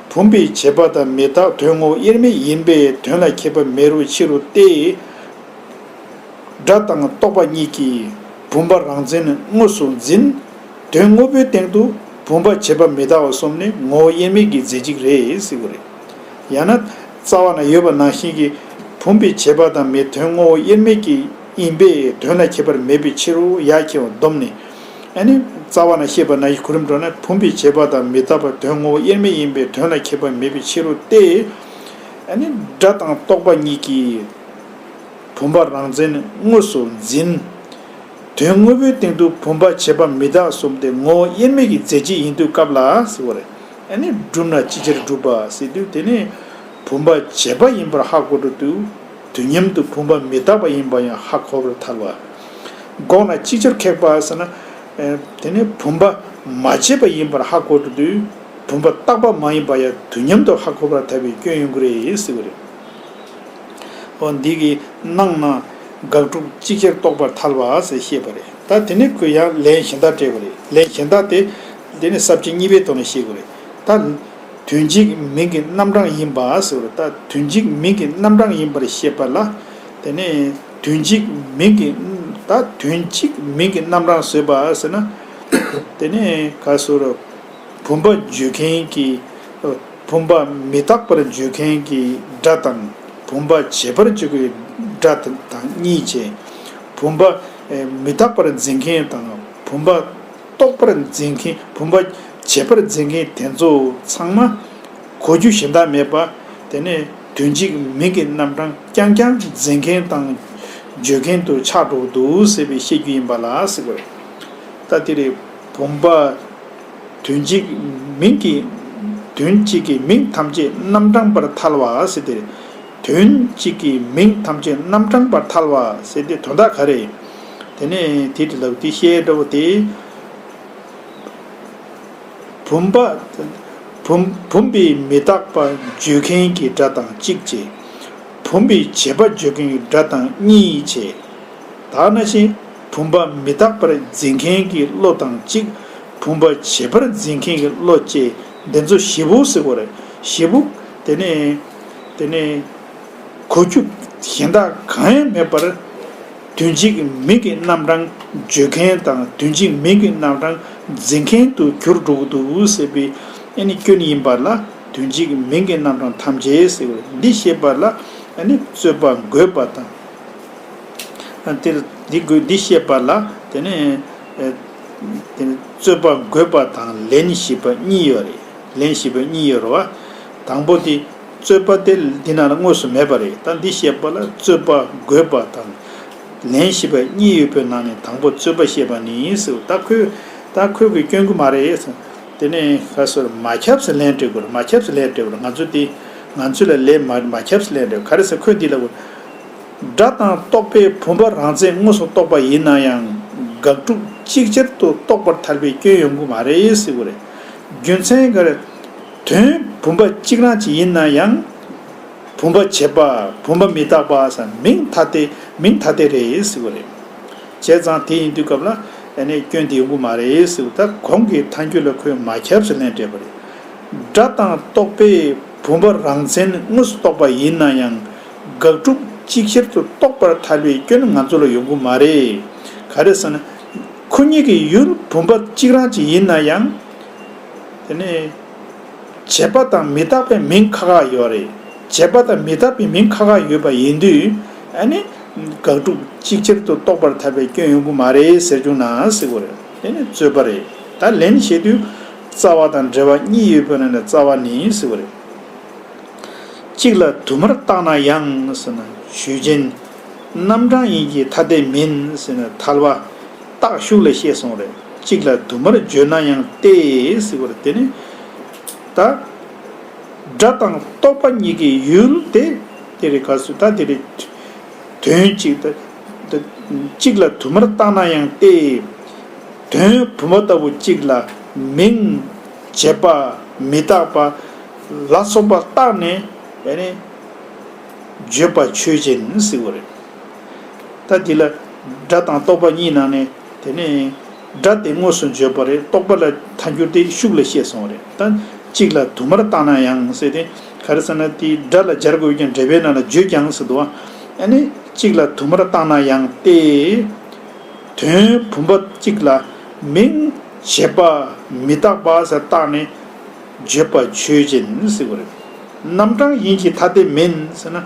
བུམ་པའི་བྱེད་པ་དང་མི་རྟག་དོན་ངོ་དབྱེར་མེད་ཡིན་པས་དོན་ལ་ཁྱད་པར་མེད་རུང་ཕྱི་རུ་སྟེ། སྒྲ་དང་རྟོག་པ་གཉིས་ཀྱིས་བུམ་པ་རང་མཚན་དངོས་སུ་འཛིན། དོན་དངོས་པོའི་སྟེང་དུ་བུམ་པ་བྱེད་པ་མི་རྟག་བ་གསུམ་ནི་ངོ་བོ་དབྱེར་མེད་ཀྱི་རྫས་གཅིག་རེད་ཟེར་དགོས་རེད། ཡང་ན། རྩ་བ་ན་ཡོད་པ་ནང་བཞིན་གྱི་བུམ་པའི་བྱེད་པ་དང་མི་དོན་ངོ་བོ་དབྱེར་མེད་ཀྱི་ཡིན་པས་དོན་ལ་ཁྱད་པར་མེད་པའི་ཕྱིར་རོ་ཡ་མཁྱེན་བ་སྡོམ་ནི། ཨ་ནི། རྩ་བ་ན་ཤེས་པ་ན་ཡིད་གོ་རིམ་གྲོ་ན་བུམ་པའི་བྱེད་པ་དང་མི་རྟག་པ་དོན་ངོ་བོ་དབྱེར་མེད་ཡིན་པས་དོན་ལ་ཁྱད་པར་མེད་པའི་ཕྱིར་རོ་སྟེ། ཨ་ནི། སྒྲ་དང་རྟོག་པ་གཉིས་ཀྱིས་བུམ་པ་རང་མཚན་དངོས་སུ་འཛིན། དོན་དངོས་པོའི་སྟེང་དུ་བུམ་པ་བྱེད་པ་མི་རྟག་གསུམ་སྟེ་ངོ་བོ་དབྱེར་མེད་ཀྱི་རྫས་གཅིག་ཡིན་དུས་སྐབས་ལ་ཟེར་བ་རེད། ཨ་ནི། བསྒྲུབས་ན་ཅི་ཕྱིར་བསྒྲུབས་པ་ཟེར་དུས་དེ་ནི་བུམ་པ་བྱེད་པ་ཡིན་པར་ཧ་གོ་འགྲོ་དུས། དུས་མཉམ་དུ་བུམ་པ་མི་རྟག་པ་ཡིན་པ་ཡང་ཧ་གོ་བར་ཐལ་བ། འགོག་ན་ཅི་ཕྱིར་ཁེགས་པ་ཟེར་ན། དེ་ནི་བུམ་པ་མ་བྱས་པ་ཡིན་པར་ཧ་གོ་བྲོ་དུས་བུམ་པ་རྟག་པ་མ་ཡིན་པ་ཡང་དུས་མཉམ་དུ་ཧ་གོ་བར་ཐལ་བའི་སྐྱོན་ཡོང་གི་རེད་ཟེར་བ་རེད། འོ་འདི་གི་ནང་ན་དགག་སྒྲུབ་ཅི་ཕྱིར་རྟོགས་པར་ཐལ་བ་ཟེར་བཤད་པ་རེད་ད་དེ་ནི་གུ་ཡངས་ལན་གཞན་དག་སྤྲད་པ་རེད་ལན་གཞན་དག་དེ་དེ་ནི་གསར་བརྗེ་གཉིས་པའི་ཐོག་ནས་བཤད་དགོས་རེད་ད། དོན་གཅིག་མིང་གི་རྣམ་གྲངས་ཡིན་པ་ཟེར་བ་ལྟར་དོན་གཅིག་མིང་གི་རྣམ་གྲངས་ཡིན་པར་བཤད་པ་ལ། དེ་ནས་དོན་གཅིག་མིང་གི། ད་དོན་གཅིག་མིང་གི་རྣམ་གྲངས་བཟོས་པ་ཟེར་ན། དེ་ནས་ག་ཟེར་རོ། བུམ་པ་བརྗོད་མཁན་གྱི། བུམ་པ་མི་རྟག་པར་བརྗོད་མཁན་གྱི་སྒྲ་དང། བུམ་པ་བྱེད་པར་བརྗོད་པའི་སྒྲ་དང་གཉིས་ཆད། བུམ་པ་མི་རྟག་པར་འཛིན་མཁན་དང་བུམ་པ། རྟོགས་པར་འཛིན་མཁན་བུམ་པ། བྱེད་པར་འཛིན་མཁན་དེ་ཚོ་ཚང་མ། གོ་རྒྱུ་གཞན་དག་མེད་པ། དེ་ནས་དོན་གཅིག་མིང་གི་རྣམ་གྲངས་རྐྱང་རྐྱང་འཛིན་མཁན་དང། བརྗོད་མཁན་དུ་ཆགས་འགྲོ་བ་འདུག་ཟེར་བའི་བཤད་རྒྱུ་ཡིན་པ་ལ་ཟེར་བ། ད་དེ་རེད། བུམ་པ། དོན་གཅིག་མིང་གི། དོན་གཅིག་གི་མིང་ཐམས་ཅད་རྣམ་གྲངས་པར་ཐལ་བ་ཟེར་དེ་རེད། དོན་གཅིག་གིས་མིང་ཐམས་ཅད་རྣམ་གྲངས་པར་ཐལ་བ་ཟེར་ཏེ་དོན་དག་ག་རེ། དེ་ནས་དེའི་དྲི་ལབ་དེ་ཤའི་སྒྲ་བོ་དེ། བུམ་པ། བུམ་པའི་མི་རྟག་པ་བརྗོད་མཁན་གྱི་སྒྲ་དང་གཅིག་བྱེད། བུམ་པའི་བྱེད་པ་བརྗོད་མཁན་གྱི་སྒྲ་དང་གཉིས་བྱེད། དག་ན་བཞིན་བུམ་པ་མི་རྟག་པར་འཛིན་མཁན་གྱི་བློ་དང་གཅིག་བུམ་པ་བྱེད་པར་འཛིན་མཁན་གྱི་བློ་བཅས་འདི་ཚོ་བཞི་པོ་ཟེར་བར་བཞི་པོ། དེ་ནས། དེ་ནས་གོ་རྒྱུ་གཞན་དག་གང་ཡང་མེད་པར། དོན་གཅིག་མིང་གི་རྣམ་གྲངས་བརྗོད་མཁན་དང་དོན་གཅིག་མིང་གི་རྣམ་གྲངས་འཛིན་མཁན་དུ་གྱུར་འགྲོ་གི་འདུག་ཟེར་བའི་ཨ་ནི་སྐྱོན་ཡིན་པ་ལ་དོན་གཅིག་མིང་གི་རྣམ་གྲངས་ཐམས་ཅད་ཟེར་བའི་འདི་བཤད་པ་ལ་ཨ་ནི་རྩོད་པ་འགོད་པ་དང། དེར་འདི་འགོད་འདི་བཤད་པ་ལ་དེ་ནི་རྩོད་པ་འགོད་པ་དང་ལན་ཞིག་པ་གཉིས་ཡོད་རེད་ལན་ཞིག་པ་གཉིས་ཡོད་རེད་བ། དང་པོ་དེ། རྩོད་པ་དེ་འདི་ན་ལ་དངོས་སུ་མེད་པ་རེད་ད་འདི་ཞེས་པ་ལ་རྩོད་པ་རྒོད་པ་དང། ལན་བཞི་པ་གཉིས་ཡོད་པའི་ནང་ནས་དང་པོ་རྩོད་པ་ཞེས་པ་ནི་ཡིན་ཟེར་ད་ཁོས་ད་ཁོས་གི་སྐྱོན་གི་མ་རེད་གསུངས། དེ་ནས་ཁ་སོར་མ་ཁྱབ་སེ་ལན་སྤྲོད་དགོས་མ་ཁྱབ་སེ་ལན་སྤྲོད་པ་ལ་ང་ཚོ་དེ་ང་ཚོས་ལ་ལས་མ་མ་ཁྱབ་སེ་ལན་སྤྲོད་ག་རེ་ཟེར་ཁོས་འདི་ལ། སྒྲ་དང་རྟོག་པའི་བུམ་པ་རང་རྩལ་དངོས་སུ་རྟོགས་པ་ཡིན་ན་ཡང་དགག་སྒྲུབ་གཅིག་ཆར་དུ་རྟོགས་པར་ཐལ་བའི་སྐྱོན་ཡོང་གི་མ་རེད་ཟེར་གི་རེད། རྒྱུ་མཚན་ག་རེ། དོན་བུམ་པ་གཅིག་རང་གཅིག་ཡིན་ན་ཡང། བུམ་པ་བྱེད་པ་བུམ་པ་མི་རྟག་པ་སམ་མིང་ཐ་དད་མིང་ཐ་དད་རེད་ཟེར་བ་རེད། བྱས་ཙང་དེ་ཡིན་དུས་སྐབས་ལ་ཡང་ནས་སྐྱོན་དེ་ཡོང་གི་མ་རེད་ཟེར་བ་ད་གོང་གི་ཐང་རྒྱུད་ལ་ཁོས་མ་ཁྱབ་སུ་ལེན་སྤྲད་པ་རེད། སྒྲ་དང་རྟོག་པས་བུམ་པ་རང་མཚན་དངོས་སུ་རྟོགས་པ་ཡིན་ན་ཡང། དགག་སྒྲུབ་གཅིག་ཆར་དུ་རྟོགས་པར་ཐལ་བའི་སྐྱོན་ང་ཚོ་ལ་ཡོང་གི་མ་རེད། ག་རེ་ཟེར་ན། ཁོ་གཉིས་ཀྱི་ཡུལ་བུམ་པ་གཅིག་རང་གཅིག་ཡིན་ན་ཡང། དེ་ནི། བྱས་པ་དང་མི་རྟག་པའི་མིང་ཁག་ཁག་ཡོད་རེད། བྱས་པ་དང་མི་རྟག་པའི་མིང་ཁག་ཁག་ཡོད་པ་ཡིན་དུས། ཨ་ནི། དགག་སྒྲུབ་གཅིག་ཆར་དུ་རྟོགས་པར་ཐལ་བའི་སྐྱོན་ཡོང་གི་མ་རེད་ཟེར་བྱུང་ནའང་སྲིད་གོ་རེ། དེ་ནི་རྩོད་པ་རེད། ད་ལན་བྱས་དུས། རྩ་བ་དང་འབྲེལ་བ་གཉིས་ཡོད་པའི་ནང་ནས་རྩ་བ་ནི་སྲིད་གོ་རེ། གཅིག་ལ་དུ་མར་བརྟགས་ན་ཡང། ཟེར་ན། ཆོས་ཅན། རྣམ་གྲངས་ཡིན་གྱི་ཐ་དད་མིན། ཟེར་ན་ཐལ་བ། རྟགས་ཤུགས་ལས་ཤེས་སོང་རེད། གཅིག་ལ་དུ་མར་བརྗོད་ན་ཡང་ཏེ་ཟེར་བ་རེད་དེ་ནི། ད། སྒྲ་དང་རྟོག་པ་གཉིས་ཀྱི་ཡུལ་ཏེ། དེ་རེད་ག་སུ་ད་དེ་རེད། དོན་གཅིག་ད། གཅིག་ལ་དུ་མར་བརྟགས་ན་ཡང་ཏེ། དོན་བུམ་པ་ལྟ་བུ་གཅིག་ལ་མིང། བྱེད་པ། མི་རྟག་པ། ལ་སོགས་པ་བརྟགས་ནས། བརྗོད་པ་ཆོས་ཅན་ཟེར་བ་རེད། ལྟ། དེ་ལ་སྒྲ་དང་རྟོག་པ་གཉིས་སྣང་ནས། དེ་ནས་སྒྲ་དེ་དངོས་སུ་བརྗོད་པ་རེད་རྟོག་པ་ལ་མཐའ་འགྱུར་ཏེ་ཤུགས་ལ་བཤད་སོང་བ་རེད་ལྟ། གཅིག་ལ་དུ་མར་བཏགས་ན་ཡང་ཟེར་ཏེ། ག་རེ་ཟེར་ན་དེ་སྒྲ་ལ་སྦྱར་དགོས་ཀྱང་འབྲེལ་པའི་ནང་ལ་བརྗོད་ཀྱང་ཟེར་དུ་ཨ། ནས་གཅིག་ལ་དུ་མར་བཏགས་ན་ཡང་སྟེ། དོན་བུམ་པ་གཅིག་ལ་མིང། བྱེད་པ་མི་རྟག་པ་ཟེར་བཏགས་ནས། བརྗོད་པ་ཆོས་ཅན་ཟེར་བ་རེད། རྣམ་གྲངས་ཡིན་གྱི་ཐ་དད་མིན་ཟེར་ན།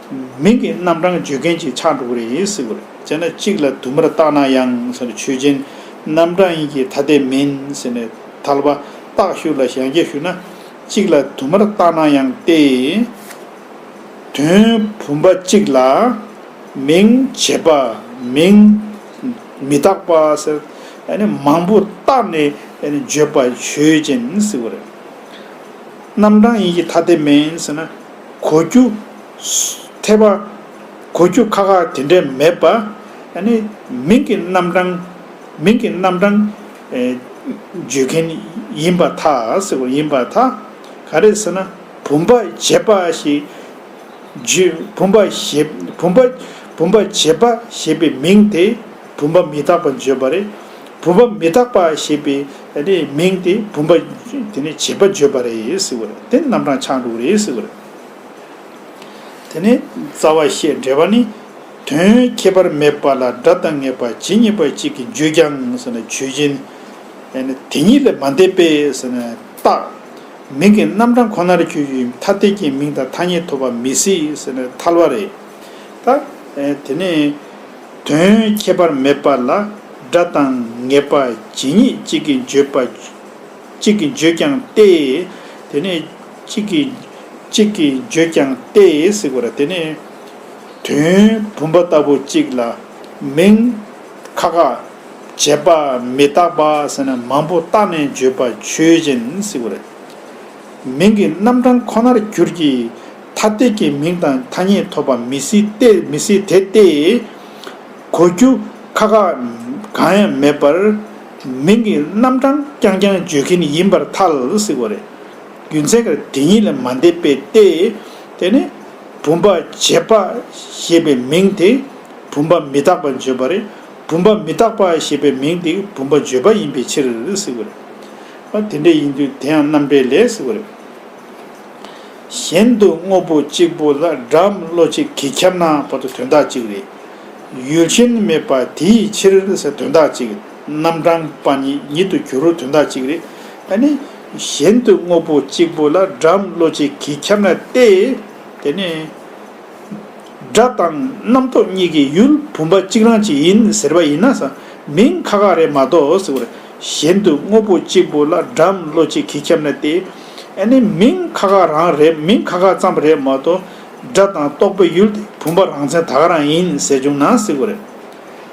མིང་གི་རྣམ་གྲངས་བརྗོད་མཁན་གྱི་ཆགས་འགྲོ་གི་རེད་ཡིན་སྲིད་གི་རེད་བྱས་ན་གཅིག་ལ་དུ་མར་བཏགས་ན་ཡང་ཟེར་ནས་ཆོས་ཅན། རྣམ་གྲངས་ཡིན་གྱི་ཐ་དད་མིན་ཟེར་ནས་ཐལ་བ། རྟགས་ཞུ་ལ་ཞལ་འགྱེད་ཞུ་ན། གཅིག་ལ་དུ་མར་བཏགས་ན་ཡང་སྟེ། དོན་བུམ་པ་གཅིག་ལ། མིང་བྱེད་པ། མིང། མི་བཏགས་པ་ཟེར། ནི་མང་པོ་བཏགས་ནས་བརྗོད་པ་ཆོས་ཅན་སྲིད་གི་རེད། རྣམ་གྲངས་ཡིན་གྱི་ཐ་དད་མིན་ཟེར་ན། གོ་རྒྱུ། ཐེག་པ། གོ་རྒྱུ་ཁག་ཁག་དེ་འདྲས་མེད་པ། ནི། མིང་གི་རྣམ་གྲངས། མིང་གི་རྣམ་གྲངས། བརྗོད་མཁན་ཡིན་པ་ཐག་ཡིན་པ་ཐག། ག་རེ་ཟེར་ན། བུམ་པ་འབྱེད་པ་ཞེས། བུམ་པ་བྱེད། བུམ་པ་བྱེད་པ་ཞེས་པའི་མིང་དེ། བུམ་པ་མི་རྟག་པ་བརྗོད་པ་རེད། བུམ་པ་མི་རྟག་པ་ཞེས་པའི་མིང་དེ་བུམ་པ་དེ་ནས་བྱེད་པ་བརྗོད་པ་རེད་ཟེར་བ་རེད་དེ་རྣམ་གྲངས་ཆགས་འགྲོ་གི་རེད་ཟེར་བ་རེད། དེ་ནས་རྩ་བ་བཤད་འགྲེལ་པ་ནི། དོན་ཁྱད་པར་མེད་པ་ལ་སྒྲ་དང་ངེས་པ་ཇི་སྙེད་པ་གཅིག་གིས་བརྗོད་ཀྱང་ཟེར་ན་ཆོས་ཅན། དེ་ཉིད་ལས་མ་འདས་པས་ཟེར་ན་རྟག། མིང་གི་རྣམ་གྲངས་ཁོ་ནར་གྱུར་ཡུལ་ཐ་དད་ཀྱི་མིང་དང་ཐ་སྙད་ཐོབ་པ་མི་སྲིད་ཟེར་ན་ཐལ་བ་རེད། དེ་ནས། དོན་ཁྱད་པར་མེད་པ་ལ་སྒྲ་དང་ངེས་པ་ཇི་སྙེད་གཅིག་གིས་བརྗོད་པ་གཅིག་གིས་བརྗོད་ཀྱང་སྟེ། དེ་ནས་གཅིག་གིས་གཅིག་གིས་བརྗོད་ཀྱང་སྟེ་ཟེར་བ་ལ་དེ་ནི། དོན་བུམ་པ་ལྟ་བུ་གཅིག་ལ་མིང། ཁ་ཁ། བྱས་པ་མི་རྟག་པ་ཟེར་ན་མང་པོ་བརྟགས་ནས་བརྗོད་པ་ཆོས་ཅན་ཟེར་བ་རེད། མིང་གི་རྣམ་གྲངས་ཁོ་ནར་གྱུར་གྱི། ཐ་དད་ཀྱི་མིང་དང་ཐ་སྙད་ཐོབ་པ་མི་སྲིད་དེ་མི་སྲིད་དེ་སྟེ། གོ་རྒྱུ་ཁ་ཁ་གང་ཡང་མེད་པར། མིང་གི་རྣམ་གྲངས་རྐྱང་རྐྱང་བརྗོད་ཀྱིན་ཡིན་པར་ཐལ་སྲིད་པ་རེད། རྒྱུ་མཚན་ཁ་དེ་ཉིད་ལས་མ་འདས་པས་ཏེ། དེ་ནི། བུམ་པ་འབྱེད་པ་ཞེས་པའི་མིང་དེ་བུམ་པ་མི་རྟག་པ་བརྗོད་པ་རེད། བུམ་པ་མི་རྟག་པ་ཞེས་པའི་མིང་དེ་བུམ་པ་བརྗོད་པ་ཡིན་པའི་ཕྱིར་སྲིད་པ་རེད། ཨ་དེ་འདྲ་ཡིན་དུས་དེའང་རྣམ་འགྲེལ་ལས་གཟིགས་པ་རེད། གཞན་དུ་དངོས་པོ་གཅིག་པུ་ལ་སྒྲ་མི་བློ་གཅིག་གིས་ཁྱབ་ན་བར་དུ་དོན་དག་གཅིག་རེད། ཡུལ་ཅན་མེད་པ་དེའི་ཕྱིར་ཟེར་དོན་དག་གཅིག་རྣམ་གྲངས་པ་ཉིད་ཉིད་དུ་གྱུར་རོ་དོན་དག་གཅིག་རེད། ཨ་ནི། གཞན་དུ་དངོས་པོ་གཅིག་པུ་ལ་སྒྲ་མི་བློ་གཅིག་གིས་ཁྱབ་ན་སྟེ། དེ་ནི། སྒྲ་དང་རྣམ་རྟོག་གཉིས་ཀྱི་ཡུལ་བུམ་པ་གཅིག་རང་གཅིག་ཡིན་ཟེར་བ་ཡིན་ན་ས་མིང་ཁ་ཁ་རེད་མ་གཏོགས་གཞན་དུ་དངོས་པོ་གཅིག་པུ་ལ་སྒྲའམ་བློ་གཅིག་གིས་ཁྱབ་ན་དེ་ཨེ་ནི་མིང་ཁ་ཁ་རང་རེད་མིང་ཁ་ཁ་ཙམ་རེད་མ་གཏོགས་སྒྲ་དང་རྟོག་པའི་ཡུལ་དེ་བུམ་པ་རང་མཚན་ད་ག་རང་ཡིན་ཟེར་བྱུང་ན་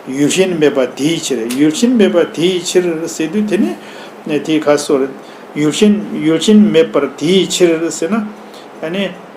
ཡུལ་གཞན་མེད་པ་དེའི་ཕྱིར་ཡུལ་གཞན་མེད་པ་དེའི་ཕྱིར་ཟེར་དུས་དེ་ནི་དེའི་ཁ་གསོ་རེད་ཡུལ་གཞན་ཡུལ་གཞན་མེད་པར་དེའི་ཕྱིར་ཟེར་ན་ཨེ་ནི།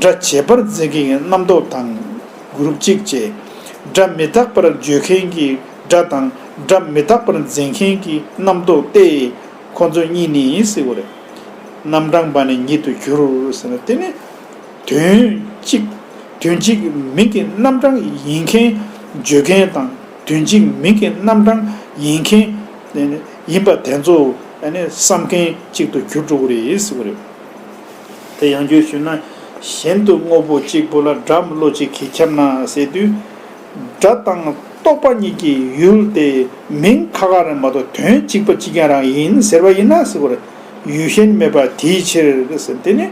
སྒྲ་བྱས་པར་མཛད་མཁན་གྱི་རྣམ་རྟོག་དང། གུར་གཅིག་བཅས། སྒྲ་མི་རྟག་པར་བརྗོད་མཁན་གྱི་སྒྲ་དང་སྒྲ་མི་རྟག་པར་མཛད་མཁན་གྱི་རྣམ་རྟོག་སྟེ། ཁོ་ཚོ་གཉིས་ནི་ཡིན་སྲིད་པ་རེད། རྣམ་གྲངས་པ་ནི་ཉིད་དུ་གྱུར་ཟེར་ན་དེ་ནི། དོན་གཅིག། དོན་གཅིག་མིང་གི་རྣམ་གྲངས་ཡིན་མཁན་བརྗོད་མཁན་དང་དོན་གཅིག་མིང་གི་རྣམ་གྲངས་ཡིན་མཁན། ཡིན་པ་དེ་ཚོ་བསམ་མཁན་གཅིག་ཏུ་གྱུར་འགྲོ་གི་རེད་ཟེར་བ་རེད། དེ་ཡང་རྒྱུད་ཞུས་ན། གཞན་དུ་དངོས་པོ་གཅིག་པུ་ལ་སྒྲ་མི་བློ་གཅིག་གིས་ཁྱབ་ན་ཟེར་དུས། སྒྲ་དང་རྟོག་པ་གཉིས་ཀྱི་ཡུལ་དེ་མིང་ཁ་ཁ་རེ་མ་གཏོགས་དོན་གཅིག་པ་གཅིག་རྐྱང་རང་ཡིན་ཟེར་བ་ཡིན་ན་ཟེར་བར་ཡུལ་གཞན་མེད་པ་དེའི་ཕྱིར། དེ་ནི།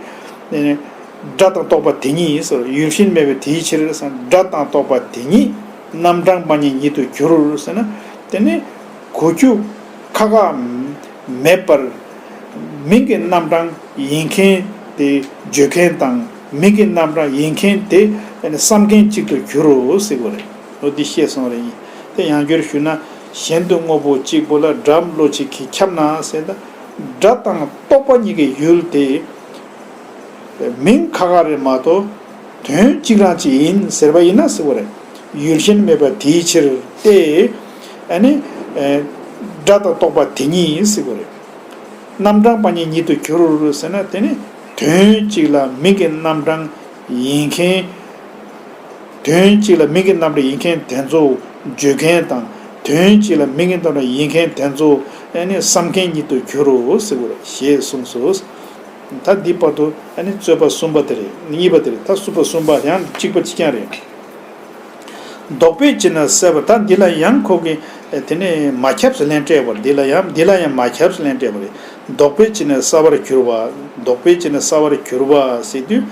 སྒྲ་དང་རྟོག་པ་དེ་ཉིད་ཡིན་ཟེར་བར་ཡུལ་གཞན་མེད་པའི་དེའི་ཕྱིར། སྒྲ་དང་རྟོག་པ་དེ་ཉིད་རྣམ་གྲངས་པ་ཉིད་ཉིད་དུ་གྱུར་ཟེར་ན། དེ་ནི། གུ་རྒྱུ། ཁ་ཁ། མེད་པར། མིང་གི་རྣམ་གྲངས་ཡིན་མཁན་དེ་བརྗོད་མཁན་དང་མིང་གི་རྣམ་གྲངས་ཡིན་མཁན་དེ་བསམ་མཁན་གཅིག་ཏུ་གྱུར་རོ་ཟེར་གོ་རེད། འོ་དེ་ཤེས་སོང་རེད་དེ་ཡང་བསྒྱུར་ཞུ་ན། གཞན་དུ་དངོས་པོ་གཅིག་པོ་ལ་སྒྲ་བློ་གཅིག་གིས་ཁྱབ་ན་ཟེར་ན། སྒྲ་དང་རྟོག་པ་གཉིས་ཀྱི་ཡུལ་དེ། མིང་ཁ་ཁ་རེད་མ་གཏོགས། དོན་གཅིག་རང་གཅིག་ཡིན་ཟེར་བ་ཡིན་ན་ཟེར་བ་རེད། ཡུལ་གཞན་མེད་པ་དེའི་ཕྱིར་ཏེ། ཨ་ནི། སྒྲ་དང་རྟོག་པ་དེ་ཉིད་ཡིན་སྲིད་པ་རེད། རྣམ་གྲངས་པ་གཉིས་ཉིད་དུ་གྱུར་ཟེར་ན་དེ་ནི་དོན་གཅིག་ལ་མིང་གི་རྣམ་གྲངས་ཡིན་མཁན། དོན་གཅིག་ལ་མིང་གི་རྣམ་གྲངས་ཡིན་མཁན་དེ་ཚོ་བརྗོད་མཁན་དང་དོན་གཅིག་ལ་མིང་གི་རྣམ་གྲངས་ཡིན་མཁན་དེ་ཚོ་ཨ་ནི་བསམ་མཁན་ཉིད་དུ་གྱུར་སྲིད་པ་རེད་ཞེས་གསུངས་སོ། ད་འདིའི་བར་དུ་ཨ་ནི་རྩོད་པ་གསུམ་པ་དེ་རེད་གཉིས་པ་དེ་རེད་ད་གསུམ་པ་གསུམ་པ་ཡང་གཅིག་པ་གཅིག་རྐྱང་རེད། རྡོག་པས་ཅི་ན་བསད་པ་དང་འདི་ལ་ཡང་ཁོག་གི། དེ་ནས་མ་ཁྱབས་སུ་ལན་སྤྲད་པར་འདི་ལ་ཡང་འདི་ལ་ཡང་མ་ཁྱབས་སུ་ལན་སྤྲད་པ་རེད། རྡོག་པས་ཅི་ན་སྲ་བར་གྱུར་པ། རྡོག་པས་ཅི་ན་སྲ་བར་གྱུར་པ་ཟེར་དུས།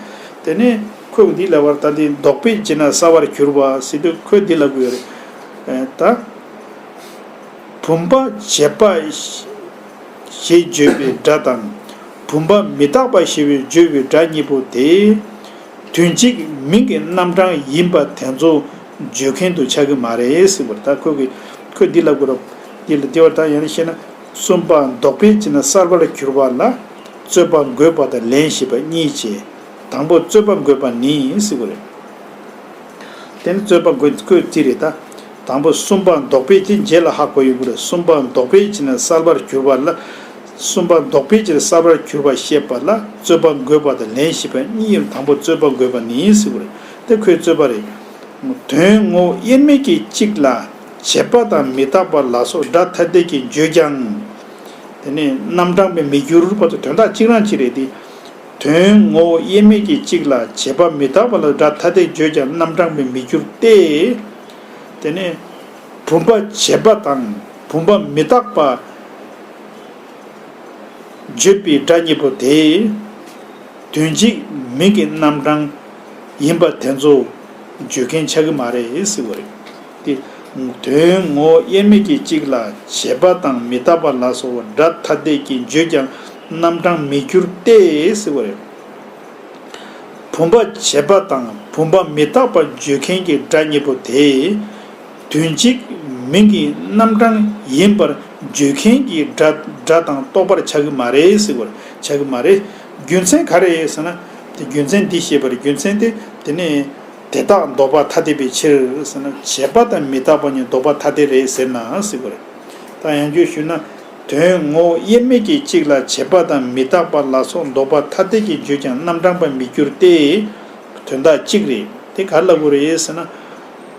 དེ་ནས་ཁོས་འདི་ལ་བར་ད་འདི་རྡོག་པས་ཅི་ན་སྲ་བར་གྱུར་པ་ཟེར་དུས་ཁོས་འདི་ལ་གུ་ཡོད་རེད། ད། བུམ་པ་བྱེད་པ། ཞེས་བརྗོད་པའི་སྒྲ་དང། བུམ་པ་མི་རྟག་པ་ཞེས་བརྗོད་པའི་སྒྲ་གཉིས་པོ་དེ། དོན་གཅིག་མིང་གི་རྣམ་གྲངས་ཡིན་པ་དེ་ཚོ་བརྗོད་མཁན་དུ་ཆགས་ཀྱི་མ་རེད་བར་ཐག་ཁོས་ཀྱི་ཁོས་འདི་ལབ་དགོས་རོགས། འདི་ལ་འདི་བར་ཐག་ཡང་ན་ཤེས་ན། གསུམ་པ་འདོགས་པས་ཅི་ན་གསར་པ་ལ་གྱུར་པ་ལ། རྩོད་པ་འགོད་པ་དང་ལན་ཞེས་པ་གཉིས་བྱས། དང་པོ་རྩོད་པ་འགོད་པ་ནི་སི་ཀོ་རེད། དེ་ནི་རྩོད་པ་འགོད་དགོས་རྩིས་རེད་ད། དང་པོ་གསུམ་པ་འདོགས་པས་ཅི་རྗེས་ལ་ཧ་གོ་ཡོད་དགོས་རེད་གསུམ་པ་འདོགས་པས་ཅི་ན་གསར་པར་གྱུར་པ་ལ། གསུམ་པ་འདོགས་ཕལ་ཆེར་གསར་པར་གྱུར་པར་བཤད་པ་ལ་རྩོད་པ་འགོད་པ་དང་ལན་ཞིག་པ་གཉིས་ཡིན་དང་པོ་རྩོད་པ་འགོད་པ་ནི་ཡིན་སྲིད་པ་རེད་དེ་ཁོའི་རྩོད་པ་རེད། དོན་དངོས་དབྱེར་མེད་ཀྱི་གཅིག་ལ་བྱེད་པ་དང་མི་རྟག་པ་ལ་སོགས་སྒྲ་ཐ་དད་ཀྱིས་བརྗོད་ཀྱང། དེ་ནི་རྣམ་གྲངས་པས་མི་འགྱུར་བར་དུ་དོན་དག་གཅིག་རང་གཅིག་རེད་དེ། དོན་དངོས་དབྱེར་མེད་ཀྱི་གཅིག་ལ་བྱེད་པ་མི་རྟག་པ་ལ་སྒྲ་ཐ་དད་བརྗོད་ཀྱང་རྣམ་གྲངས་པས་མི་འགྱུར་ཏེ། དེ་ནི་བུམ་པ་བྱེད་པ་དང་བུམ་པ་མི་རྟག་པ། བརྗོད་པའི་སྒྲ་གཉིས་པོ་དེ། དོན་གཅིག་མིང་གི་རྣམ་གྲངས་ཡིན་པ་དེ་ཚོ་བརྗོད་མཁན་ཆགས་ཀྱི་མ་རེད་ཟེར་བ་རེད། དོན་ངོ་དབྱེར་མེད་ཀྱི་གཅིག་ལ་བྱེད་པ་དང་མི་རྟག་པ་ལ་སོགས་བ་སྒྲ་ཐ་དད་ཀྱིས་བརྗོད་ཀྱང་རྣམ་གྲངས་མི་འགྱུར་ཏེ་ཟེར་བ་རེད། བུམ་པ་བྱེད་པ་དང་བུམ་པ་མི་རྟག་པ་བརྗོད་མཁན་གྱི་སྒྲ་གཉིས་པོ་དེ། དོན་གཅིག་མིང་གི་རྣམ་གྲངས་ཡིན་པར་བརྗོད་མཁན་གྱི་སྒྲ་སྒྲ་དང་རྟོགས་པར་བྱ་གི་མ་རེད་ཟེར་བར་བྱ་གི་མ་རེད། རྒྱུ་མཚན་ག་རེད་ཟེར་ན། དེ་རྒྱུ་མཚན་འདི་ཞེས་པར་རྒྱུ་མཚན་དེ་དེ་ནི་དེ་དག་ལྡོག་པ་ཐ་དད་པའི་ཕྱིར་ཟེར་ན་བྱས་པ་དང་མི་རྟག་པ་གཉིས་ལྡོག་པ་ཐ་དད་རེད་ཟེར་ན་ཟེར་བར་ད་ཡང་བརྗོད་ཞུས་ན། དོན་ངོ་དབྱེར་མེད་ཀྱི་གཅིག་ལ་བྱས་པ་དང་མི་རྟག་པ་ལ་སོགས་ལྡོག་པ་ཐ་དད་ཀྱིས་བརྗོད་ཀྱང་རྣམ་གྲངས་པར་མི་འགྱུར་ཏེ། དོན་དག་གཅིག་རེད་དེ་ག་ལ་དགོས་རེད་ཟེར་ན།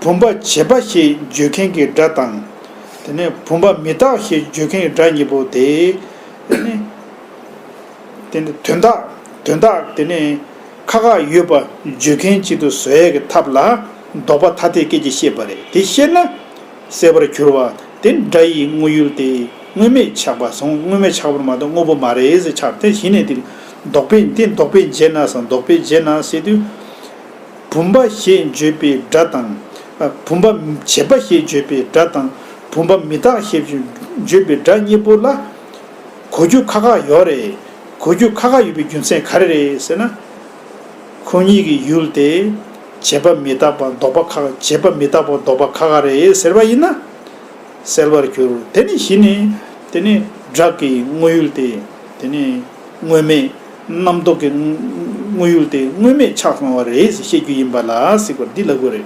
བུམ་པ་བྱེད་པ་ཞེས་བརྗོད་མཁན་གྱི་སྒྲ་དང། དེ་ནས་བུམ་པ་མི་རྟག་ཞེས་བརྗོད་མཁན་གྱི་སྒྲ་གཉིས་པོ་སྟེ། དེ་ནི། དེ་ནི་དོན་དག་དོན་དག་དེ་ནི་ཁ་ཁ་ཡོད་པ་བརྗོད་མཁན་གཅིག་ཏུ་བཟོ་ཡ་གི་ཐབས་ལ་ལྡོག་པ་ཐ་དད་སྐད་ཀྱིས་བཤད་པ་རེད་དེ་ཤེས་ན། གསལ་བར་གྱུར་བ་དེ་སྒྲ་ཡི་དངོས་ཡུལ་ཏེ་དངོས་མེད་ཆགས་པ་སོང་དངོས་མེད་ཆགས་པར་མ་གཏོགས་དངོས་པོ་མ་རེད་ཟེར་ཆགས་དེ་གཞི་ནས་དེ་ལྡོག་པས་དེ་ལྡོག་པས་འཇལ་ན་སང་ལྡོག་པས་འཇལ་ན་ཟེར་དུས། བུམ་པ་ཞེས་བརྗོད་པའི་སྒྲ་དང། བུམ་པ་བྱེད་པ་ཞེས་བརྗོད་པའི་སྒྲ་དང། བུམ་པ་མི་རྟག་ཞེས་བརྗོད་པའི་སྒྲ་གཉིས་པོ་ལ། གོ་རྒྱུ་ཁ་ཁ་ཡོད་རེད། གོ་རྒྱུ་ཁ་ཁ་ཡོད་པའི་རྒྱུ་མཚན་ག་རེ་རེད་ཟེར་ན། ཁོ་གཉིས་ཀྱི་ཡུལ་དེ། བྱེད་པ་མི་རྟག་པ་ལྡོག་པ་ཁ་བྱེད་པ་མི་རྟག་པ་ལྡོག་པ་ཁ་ཁ་རེད་ཟེར་བ་ཡིན་ན། སེལ་བར་འགྱུར། དེ་ནི་གཞི་ནི། དེ་ནི་སྒྲགས་ཀྱི་དངོས་ཡུལ་ཏེ། དེ་ནི། དངོས་མེད་རྣམ་རྟོག་གི་དངོས་ཡུལ་དེ་དངོས་མེད་ཆ་ཚང་བ་རེད་ཟེར་བཤད་རྒྱུ་ཡིན་པ་ལ་སིག་པར་འདི་ལ་དགོས་རེད།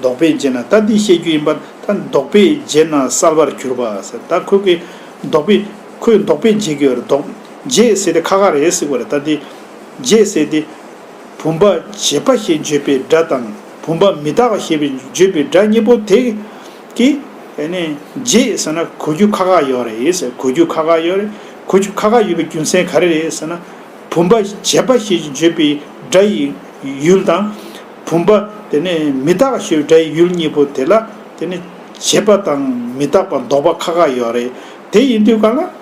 འདོགས་པས་འཇལ་ན་ད་འདི་བཤད་རྒྱུ་ཡིན་པ་ད་འདོགས་པས་འཇལ་ན་གསར་པར་གྱུར་པ་ཟེར་ད་ཁོས་ཀྱི་འདོགས་པས་ཁོས་འདོགས་པས་འཇལ་གྱི་རེད་འདོགས་འཇལ་ཟེར་དེ་ཁ་ཁ་རེད་སིག་པ་རེད་ད་འདི་འཇལ་ཟེར་དེ། བུམ་པ་བྱེད་པ་ཞེས་བརྗོད་པའི་སྒྲ་དང་བུམ་པ་མི་རྟག་པ་ཞེས་བརྗོད་པའི་སྒྲ་གཉིས་པོ་དེ། ཀྱི། ཨེ་ནས། རྗེས་ཟེར་ན་གོ་རྒྱུ་ཁ་ཁ་ཡོད་རེད་ཡེ་ཟེར་གོ་རྒྱུ་ཁ་ཁ་ཡོད་རེད། གོ་རྒྱུ་ཁ་ཁ་ཡོད་པའི་རྒྱུ་མཚན་ག་རེ་རེད་ཟེར་ན། བུམ་པ་བྱས་པ་ཞེས་བརྗོད་པའི་སྒྲ་ཡི་ཡུལ་དང། བུམ་པ་དེ་ནས་མི་རྟག་པ་ཞེས་པའི་སྒྲ་ཡི་ཡུལ་གཉིས་པོ་དེ་ལ་དེ་ནས་བྱས་པ་དང་མི་རྟག་པ་འདོགས་པ་ཁ་ཁ་ཡོད་རེད། དེ་ཡིན་དུས་ག་ལ།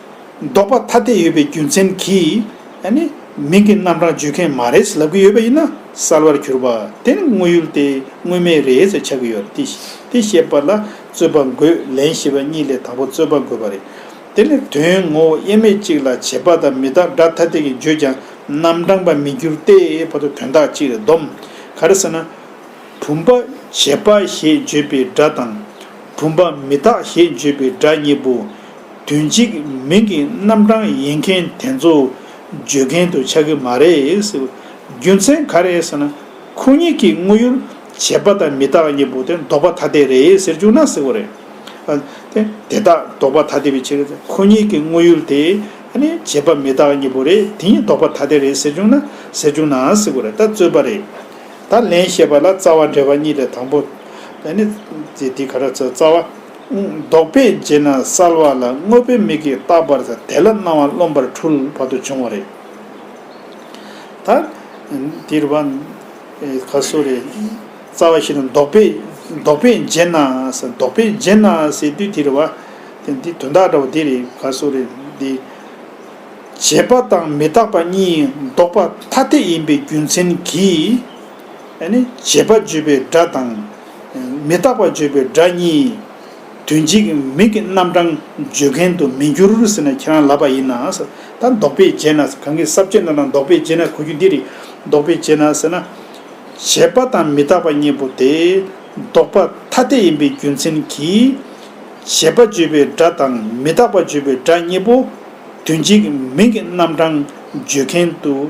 བཟློག་པ་ཐ་དད་ཡོད་པའི་རྒྱུ་མཚན་གྱིས་ནི་མིང་གི་རྣམ་གྲངས་བརྗོད་མཁན་མ་རེད་ལབ་ཀྱི་ཡོད་པ་ཡིན་ན་གསལ་བར་གྱུར་པ་དེ་ནི་དངོས་ཡུལ་དེ་དངོས་མེད་རེད་ཟེར་ཆགས་ཀྱི་ཡོད་དེ་བཤད་པ་ལ་རྩོད་པ་འགོད་ལན་ཞེས་པ་གཉིས་ལས་དང་པོ་རྩོད་པ་འགོད་པ་རེད་དེ་ནི་དོན་ངོ་བོ་དབྱེར་མེད་ཅིག་ལ་བྱེད་པ་དང་མི་དག་སྒྲ་ཐ་དད་ཀྱིས་བརྗོད་ཀྱང་རྣམ་གྲངས་པར་མི་འགྱུར་ཏེ་བར་དུ་དོན་དག་ཅིག་རེད་སྡོམ་ག་རེད་ཟེར་ན། བུམ་པ་བྱེད་པ་ཞེས་བརྗོད་པའི་སྒྲ་དང། བུམ་པ་མི་རྟག་ཞེས་བརྗོད་པའི་སྒྲ་གཉིས་པོ། དོན་གཅིག་མིང་གི་རྣམ་གྲངས་ཡིན་མཁན་དེ་ཚོ་བརྗོད་མཁན་དུ་ཆགས་ཀྱི་མ་རེད། རྒྱུ་མཚན་ག་རེད་ཟེར་ན། ཁོ་གཉིས་ཀྱིས་དངོས་ཡོད་བྱས་པ་དང་མི་དག་གཉིས་པོ་དེ་འདོགས་པ་ཐ་དད་རེད་ཟེར་བཅུག་ན་ཟེར་བ་རེད། དེ་དག་འདོགས་པ་ཐ་དད་པའི་ཕྱིར། ཁོ་གཉིས་ཀྱིས་དངོས་ཡོད་དེ་བྱས་པ་མི་དག་གཉིས་པོ་རེད་དེ་གཉིས་འདོགས་པ་ཐ་དད་རེད་ཟེར་བཅུག་ན་ཟེར་བཅུག་ན་ཟེར་བ་རེད་ད་རྩོད་པ་རེད། ད་ལན་བཤད་པ་ལ་རྩ་བ་འགྲེལ་བ་གཉིས་ལས་དང་པོ། དེ་ག་རེ་རྩོད་རྩ་བ། ལྡོག་པས་རྗེས་ན་གསལ་བ་ལ་དངོས་པོའི་མིག་གིས་བརྟགས་པར་ཐལ། དེ་ལ་སྣང་བ་རློམ་པར་འཁྲུལ་བར་དུ་འབྱུང་བ་རེད། ད། འདིར་བ། ཁ་སོ་རེ། རྩ་བ་བཞི་དང་ལྡོག་པས། ལྡོག་པས་རྗེས་ན་གསལ། ལྡོག་པས་རྗེས་ན་གསལ་དུས་དེར་བ། དེ་འདི་དོན་དག་འདྲ་བ་འདི་རེད་ཁ་སོ་རེ། འདི། བྱེད་པ་དང་མི་རྟག་པ་གཉིས་ལྡོག་པ་ཐ་དད་ཡིན་པའི་རྒྱུ་མཚན་གྱིས། བྱེད་པ་བརྗོད་པའི་སྒྲ་དང། མི་རྟག་པ་བརྗོད་པའི་སྒྲ་གཉིས། དོན་གཅིག་མིག་གི་རྣམ་གྲངས་བརྗོད་མཁན་དུ་མི་འགྱུར་ཟེར་ན་ཁྱེད་རང་ལབ་པ་ཡིན། ད་འདོགས་པས་འབྱེད་ན། གང་གི་ཟབ་ཆོས་རྣམས་ལ་འདོགས་པས་འབྱེད་ན་གོ་རྒྱུ་འདི་རེད། འདོགས་པས་འབྱེད་ན་ཟེར་ན། བྱེད་པ་དང་མི་རྟག་པ་གཉིས་པོ་དེ། འདོགས་པ་ཐ་དད་ཡིན་པའི་རྒྱུ་མཚན་གྱིས། བྱེད་པ་བརྗོད་པའི་སྒྲ་དང་མི་རྟག་པ་བརྗོད་པའི་སྒྲ་གཉིས་པོ། དོན་གཅིག་མིག་གི་རྣམ་གྲངས་བརྗོད་མཁན་དུ།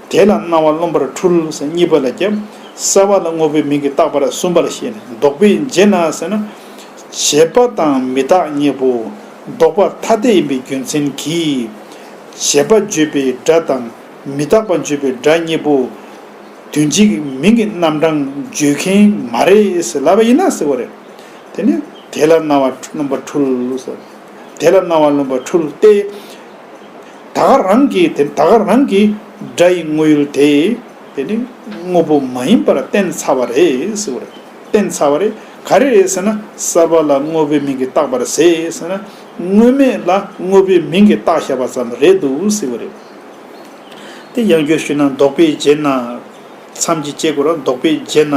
དེ་ལ་སྣང་བ་རློམ་པར་འཁྲུལ་ཟེར་གཉིས་པ་ལ་རྒྱབ། གསལ་བ་ལ་དངོས་པོའི་མིང་གིས་བཏགས་པར་གསུམ་པར་བཤད་ནས་ལྡོག་པའི་རྗེས་གནང་ཟེར་ན། བྱེད་པ་དང་མི་རྟག་གཉིས་པོ་ལྡོག་པ་ཐ་དད་ཡིན་པའི་རྒྱུ་མཚན་གྱིས། བྱེད་པ་བརྗོད་པའི་སྒྲ་དང་མི་རྟག་པ་བརྗོད་པའི་སྒྲ་གཉིས་པོ། དུས་གཅིག་མིང་གི་རྣམ་གྲངས་བརྗོད་མཁན་མ་རེད་ཟེར་ལབ་པ་ཡིན་ན་ཟེར་བ་རེད། དེ་ནི་དེ་ལ་སྣང་བ་རློམ་པར་འཁྲུལ། དེ་ལ་སྣང་བ་རློམ་པར་འཁྲུལ་ཏེ། ད་ག་རང་གིས་དེ་ད་ག་རང་གིས་སྒྲ་ཡི་དངོས་ཡུལ་དེ་དེ་ནི་དངོས་པོ་མ་ཡིན་པར་བསྟན་ཚར་བ་རེད་ཟེར་བ་རེད། བསྟན་ཚར་བ་རེད་ག་རེ་རེད་ཟེར་ན་གསར་པ་ལ་དངོས་པོའི་མིང་གིས་བཏགས་པར་ཟེར་ཟེར་ན་དངོས་མེད་ལ་དངོས་པོའི་མིང་གིས་བཏགས་བཞག་པ་ཙམ་རེད་འདུག་ཟེར་བ་རེད། དེ་ཡང་བསྐྱར་ཞུས་ན་འདོགས་པའི་རྗེས་ན་མཚམས་ཀྱི་བཅད་སྒོ་ར་འདོགས་པའི་རྗེས་ན་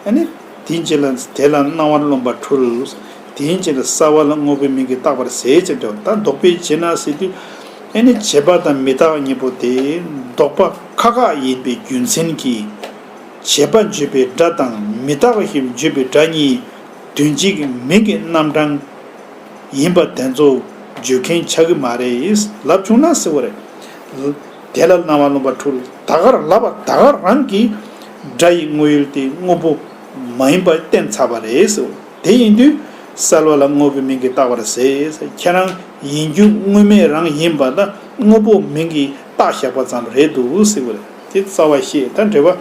ཨ་ནི། དེའི་རྗེས་ལ་དེ་ལ་སྣང་བར་རློམ་པར་འཁྲུལ། དེའི་རྗེས་ལ་སྲ་བ་ལ་དངོས་པོའི་མིང་གིས་བཏགས་པར་ཟད་ཅེས་བྱ་བ་ད་འདོགས་པའི་རྗེས་ན་ཟེར་ཏེ། ཨེ་ནི་བྱེད་པ་དང་མི་རྟག་གཉིས་པོ་དེ་འདོགས་པ་ཁ་ཁ་ཡིན་པའི་རྒྱུ་མཚན་གྱིས། བྱེད་པ་བརྗོད་པའི་སྒྲ་དང་མི་རྟག་པ་ཞེས་བརྗོད་པའི་སྒྲ་གཉིས་དོན་གཅིག་མིང་གི་རྣམ་གྲངས་ཡིན་པ་དེ་ཚོ་བརྗོད་མཁན་ཆགས་ཀྱི་མ་རེད་ལབ་བྱུང་ན་ཟེར་བ་རེད། དེ་ལ་སྣང་བ་རློམ་པ་འཁྲུལ་ད་གར་ལབ་པ་ད་གར་རང་གི་སྒྲ་ཡི་དངོས་ཡུལ་དེ་དངོས་པོ་མ་ཡིན་པ་བསྟན་ཚར་བ་རེད་ཟེར་བ་དེ་ཡིན་དུས་གསལ་བ་ལ་དངོས་པོའི་མིང་གིས་བཏགས་པར་ཟད་ཁྱེད་རང་ཡིན་རྒྱུ་དངོས་མེད་རང་ཡིན་པ་ད་དངོས་པོ་མིང་གིས་བཏགས་བཞག་པ་ཙམ་རེད་འདུག་ཟེར་བ་དེ་རྩ་བ་ཤེས་དང་འབྲེལ་བ།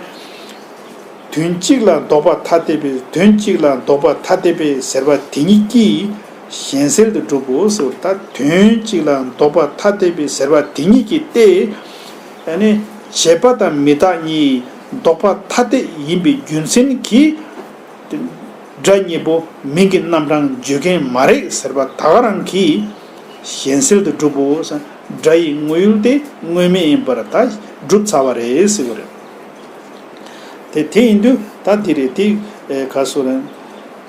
དོན་གཅིག་ལ་ལྡོག་པ་ཐ་དད་པས་དོན་གཅིག་ལ་ལྡོག་པ་ཐ་དད་པས་ཟེར་བ་དེ་ཉིད་ཀྱིས། གཞན་གསེར་དུ་གྲུབ་བོ་ཟེར་བ་ལྟར་དོན་གཅིག་ལ་འདོགས་པ་ཐ་དད་པའི་ཟེར་བ་དེ་ཉིད་ཀྱིས་ཏེ། ཡང་ན་བྱེད་པ་དང་མི་དག་གཉིས་འདོགས་པ་ཐ་དད་ཡིན་པའི་རྒྱུ་མཚན་གྱིས། སྒྲ་གཉིས་པོ་མིང་གི་རྣམ་གྲངས་བརྗོད་མཁན་མ་རེག་ཟེར་བ་དག་རང་གིས་གཞན་གསེར་དུ་གྲུབ་བོ་ཟེར་སྒྲ་ཡི་དངོས་ཡུལ་ཏེ་དངོས་མེད་ཡིན་པར་ད་བསྒྲུབ་ཚར་བ་རེད་ཟེར་བ་རེད། དེ་དེ་ཡིན་དུས་ད་དེ་རེད་དེ་ག་སོ་རན།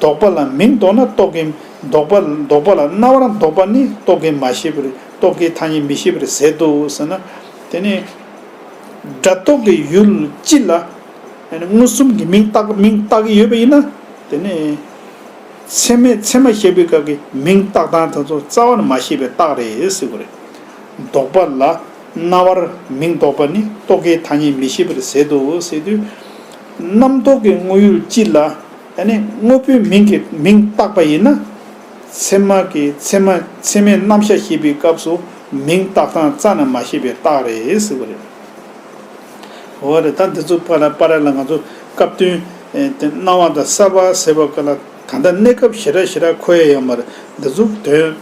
འདོགས་པ་ལ་མིང་འདོགས་ན་རྟོག་གེ། འདོགས་པ་འདོགས་པ་ལ་རྣ་བར་འདོགས་པ་ནི་རྟོག་གེ་མ་ཤེས་པས་རྟོག་གེའི་ཐ་སྙད་མི་ཤེས་པར་ཟད་དོ་ཟེར་ན། དེ་ནི། སྒྲ་རྟོག་གི་ཡུལ་སྤྱི་ལ། མངོན་སུམ་གྱི་མིང་བཏགས་མིང་བཏགས་ཀྱི་ཡོད་པ་ཡིན་ན། དེ་ནི། ཚད་མས་ཚད་མ་ཤེས་པའི་སྐབས་ཀྱི་མིང་བཏགས་སྟངས་དེ་ཚོ་རྩ་བར་མ་ཤེས་པའི་རྟགས་རེད་ཟེར་དགོས་རེད། འདོགས་པ་ལ་རྣ་བར་མིང་འདོགས་པ་ནི་རྟོག་གེའི་ཐ་སྙད་མི་ཤེས་པར་ཟད་དོ་ཟེར་དུས། རྣམ་རྟོག་གི་དངོས་ཡུལ་སྤྱི་ལ། ཡང་ན་དངོས་པོའི་མིང་གིས་མིང་བཏགས་པ་ཡིན་ན། ཚེར་མ་གིས་ཚེར་མ་ཚེར་མའི་རྣམ་གཞག་ཤེས་པའི་སྐབས་སུ་མིང་བཏགས་སྟངས་རྩ་ན་མ་ཤེས་པའི་རྟགས་རེད་ཟེར་བ་རེད། འོ་རེད་ད་འདི་ཚོ་པ་ར་པ་ར་ལ་ང་ཚོ་སྐབས་དོན་དེ་སྣང་བ་དང་གསལ་བ་ཟེར་བ་ཀ་ལ་ད་ལྟ་གནས་སྐབས་ཞེ་དྲག་ཞེ་དྲག་ཁོ་ཡ་ཡོད་མ་རེད་འདི་ཚོ་དོན་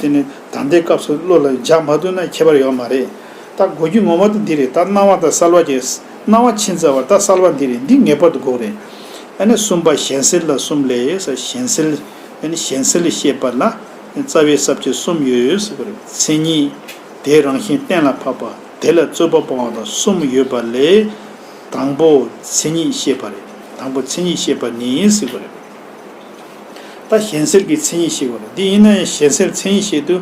དེ་ནི་ད་ལྟའི་སྐབས་སུ་བློ་ལ་འཇགས་མ་ཐུབ་ན་ཁྱད་པར་ཡོད་མ་རེད། ད་གོ་རྒྱུ་ངོ་མ་དེ་འདི་རེད་ད་སྣང་བ་ད་གསལ་བ་ཀྱེ། སྣང་བ་ཕྱིན་ཚར་བ་ད་གསལ་བ་འདི་རེད་འདི་ངེས་པར་དུ་འགོག་རེད། ཨ་ནི་གསུམ་པ་གཞན་སེལ་ལ་གསུམ་ལས་ཡོད་ས་གཞན་སེལ། ཨ་ནི་གཞན་སེལ་ཤེས་པ་ལ་རྩ་བའི་ས་བཅད་གསུམ་ཡོད་ཟེར་བ་རེད་མཚན་ཉིད་དེའི་རང་བཞིན་གཏན་ལ་ཕབ་པ་དེ་ལ་རྩོད་པ་སྤོང་བ་དང་གསུམ་ཡོད་པ་ལས། དང་པོ་མཚན་ཉིད་ཤེས་པ་རེད་དང་པོ་མཚན་ཉིད་ཤེས་པ་ནི་ཟེར་བ་རེད། ད་གཞན་སེལ་གྱི་མཚན་ཉིད་ཤེས་པ་རེད་འདི་ཡིན་ན་ཡང་གཞན་སེལ་མཚན་ཉིད་ཤེས་དུས་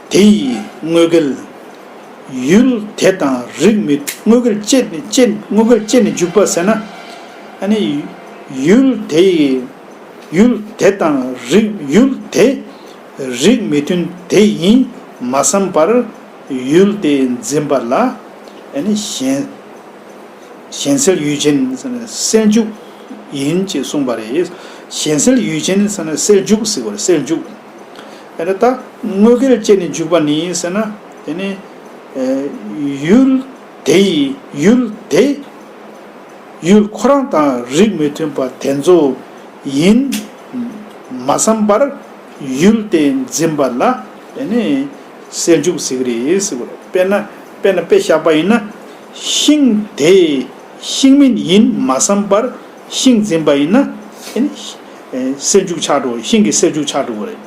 དེ་ཡིས་དངོས་བརྒལ། ཡུལ་དེ་དང་རིགས་མི་དངོས་བརྒལ་ཅེས་དངོས་བརྒལ་ཅེས་ནི་འཇུག་པ་ཟེར་ན། ནི། ཡུལ་དེ་ཡི། ཡུལ་དེ་དང་རིགས་ཡུལ་དེ། རིགས་མི་དོན་དེ་ཡིན་མ་བསམ་པར། ཡུལ་དེ་འཛིན་པ་ལ། ནི། གཞན་སེལ་ཡུལ་ཅན་ནི་སེལ་འཇུག་ཡིན་ཅེས་གསུངས་པ་རེད། གཞན་སེལ་ཡུལ་ཅན་ནི་སེལ་འཇུག་ཟེར་བ་རེད་སེལ་འཇུག། ཨེ་རེད་ད། དངོས་སྐལ་བཅས་ནས་འཇུག་པ་ནི་ཟེར་ན། དེ་ནི། ཡུལ། དེ་ཡི། ཡུལ། དེ། ཡུལ། ཁོ་རང་དང་རིགས་མི་མཐུན་པ་དེ་ཚོ། ཡིན། མ་བསམ་པར། ཡུལ་དེ་འཛིན་པ་ལ། དེ་ནི། སེལ་འཇུག་ཟེར་གི་རེད་ཟེར་གི་རེད། དཔེར་ན། དཔེར་ན་དཔེ་བཞག་པ་ཡིན་ན། ཤིང། དེ། ཤིང་མིན་ཡིན་མ་བསམ་པར། ཤིང་འཛིན་པ་ཡིན་ན། སེལ་འཇུག་ཆགས་འགྲོ་ཤིང་གི་སེལ་འཇུག་ཆགས་འགྲོ་བ་རེད།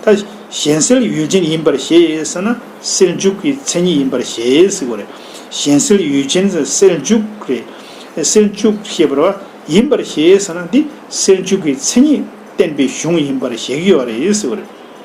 ད་གཞན་སེལ་ཡུལ་ཅན་ཡིན་པར་བཞེད་ཟེར་ན་སེལ་འཇུག་གི་མཚན་ཉིད་ཡིན་པར་བཞེད་ཟེར་བ་རེད། གཞན་སེལ་ཡུལ་ཅན་ཟེར་ན་སེལ་འཇུག་རེད། སེལ་འཇུག་ཤེས་པར་བ་ཡིན་པར་བཞེད་ཟེར་ན་འདི་སེལ་འཇུག་གི་མཚན་ཉིད་བསྟན་པའི་གཞུང་ཡིན་པར་བཞེད་ཀྱི་ཡོད་རེད་ཟེར་བ་རེད།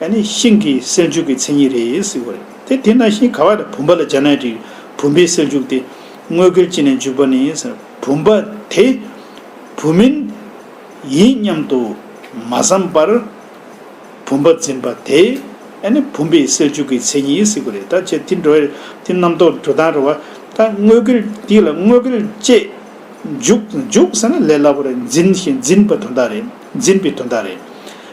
ཡང་ནི་ཤིང་གི་སེལ་འཇུག་གི་མཚན་ཉིད་རེད་ཟེར་བ་རེད་དེ་དེས་ན་ཤིང་ག་བ་དང་བུམ་པ་ལ་སྦྱར་ན་རིགས་བུམ་པའི་སེལ་འཇུག་སྟེ། དངོས་སྐལ་ཅི་ནས་འཇུག་པ་ནི་ཟེར་ན་བུམ་པ་དེ་བུ་མིན། ཡིན་སྙམ་དུ་མ་བསམ་པར། བུམ་པ་འཛིན་པ་དེ་ཡང་ནི་བུམ་པའི་སེལ་འཇུག་གི་མཚན་ཉིད་ཟེར་བ་རེད་ད་ཅེས་དེ་འགྲོ་བས་དེ་རྣམ་རྟོག་འགྲོ་དང་རུང་བ། ད་དངོས་སྐལ་འདི་ལ་དངོས་སྐལ་བཅས་འཇུག། འཇུག་ཟེར་ན་ལས་སླ་བོ་རེད་འཛིན་ཞེས་འཛིན་པ་དོན་དག་རེད་འཛིན་པའི་དོན་དག་རེད།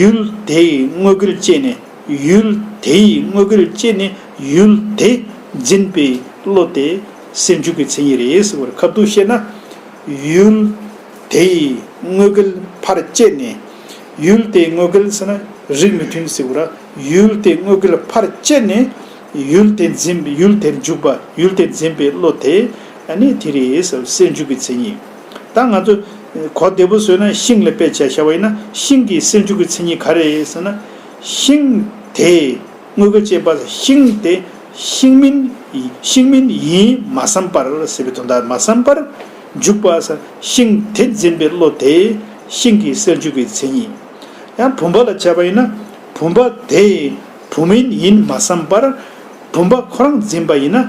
ཡུལ་དེ་ཡི་དངོས་དགུར་བསྐྱེད་ནས་ཡུལ་དེ་ཡི་དངོས་དགུར་བསྐྱེད་ནས་ཡུལ་དེ་འཛིན་པའི་བློ་དེ་སེལ་འཇུག་གི་མཚན་ཉིད་རེད་ཟེར་བར་ཁབ་ཏུ་བཤད་ན། ཡུལ་དེ་ཡི་དངོས་དགུལ་ཕར་བསྐྱེད་ནས་ཡུལ་དེའི་དངོས་དགུལ་ཟེར་ན་རིགས་མི་མཐུན་ཟེར་བུ་ར་ཡུལ་དེའི་དངོས་དགུལ་ཕར་བསྐྱེད་ནས་ཡུལ་དེ་འཛིན་ཡུལ་དེར་འཇུག་པ་ཡུལ་དེ་འཛིན་པའི་བློ་དེ་ནི་དེ་རེད་ཟེར་བ་སེལ་འཇུག་གི་མཚན་ཉིད། ད་ང་ཚོས། གོ་བདེ་པོ་བཟོས་ན་ཤིང་ལ་དཔེ་བྱས་བྱ་བ་ཡིན་ན་ཤིང་གི་སེམས་ཤུགས་ཀྱི་མཚན་ཉིད་ག་རེད་ཟེར་ན། ཤིང། དེ། དངོས་པོ་ཅན་པ་ལ་ཤིང་དེ། ཤིང་མིན། ཤིང་མིན་ཡིན་མ་བསམ་པར་ཟེར་བའི་དོན་དག་མ་བསམ་པར། འཇུག་པ། ཤིང་དེ་འཛིན་པའི་བློ་དེ། ཤིང་གི་སེམས་ཤུགས་ཀྱི་མཚན་ཉིད། ཡང་བུམ་པ་ལ་བྱས་པ་ཡིན་ན། བུམ་པ་དེ། བུམ་མིན་ཡིན་མ་བསམ་པར། བུམ་པ་ཁོ་རང་འཛིན་པ་ཡིན་ན།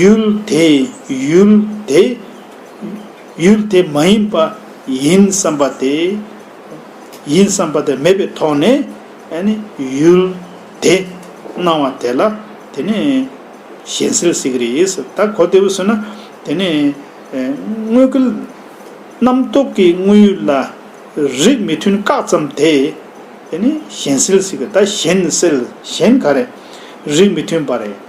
ཡུལ་དེ་ཡུལ་དེ། ཡུལ་དེ་མ་ཡིན་པ་ཡིན་བསམ་པ་དེ། ཡིན་བསམ་པ་དེ་མེད་པའི་ཐོག་ནས་ནི་ཡུལ་དེ་སྣང་བ་དེ་ལ་དེ་ནི་གཞན་སེལ་ཟེར་གྱི་རེད། ད་གོ་བདེ་བོ་ཟེར་ན་དེ་ནི་དངོས་ཀྱི་རྣམ་རྟོག་གི་དངོས་ཡུལ་ལ་རིགས་མི་མཐུན་བཀག་ཙམ་དེ་ནི་གཞན་སེལ་ཟེར་གྱི་རེད། ད་གཞན་སེལ་གཞན་ག་རེ་རིགས་མི་མཐུན་པ་རེད།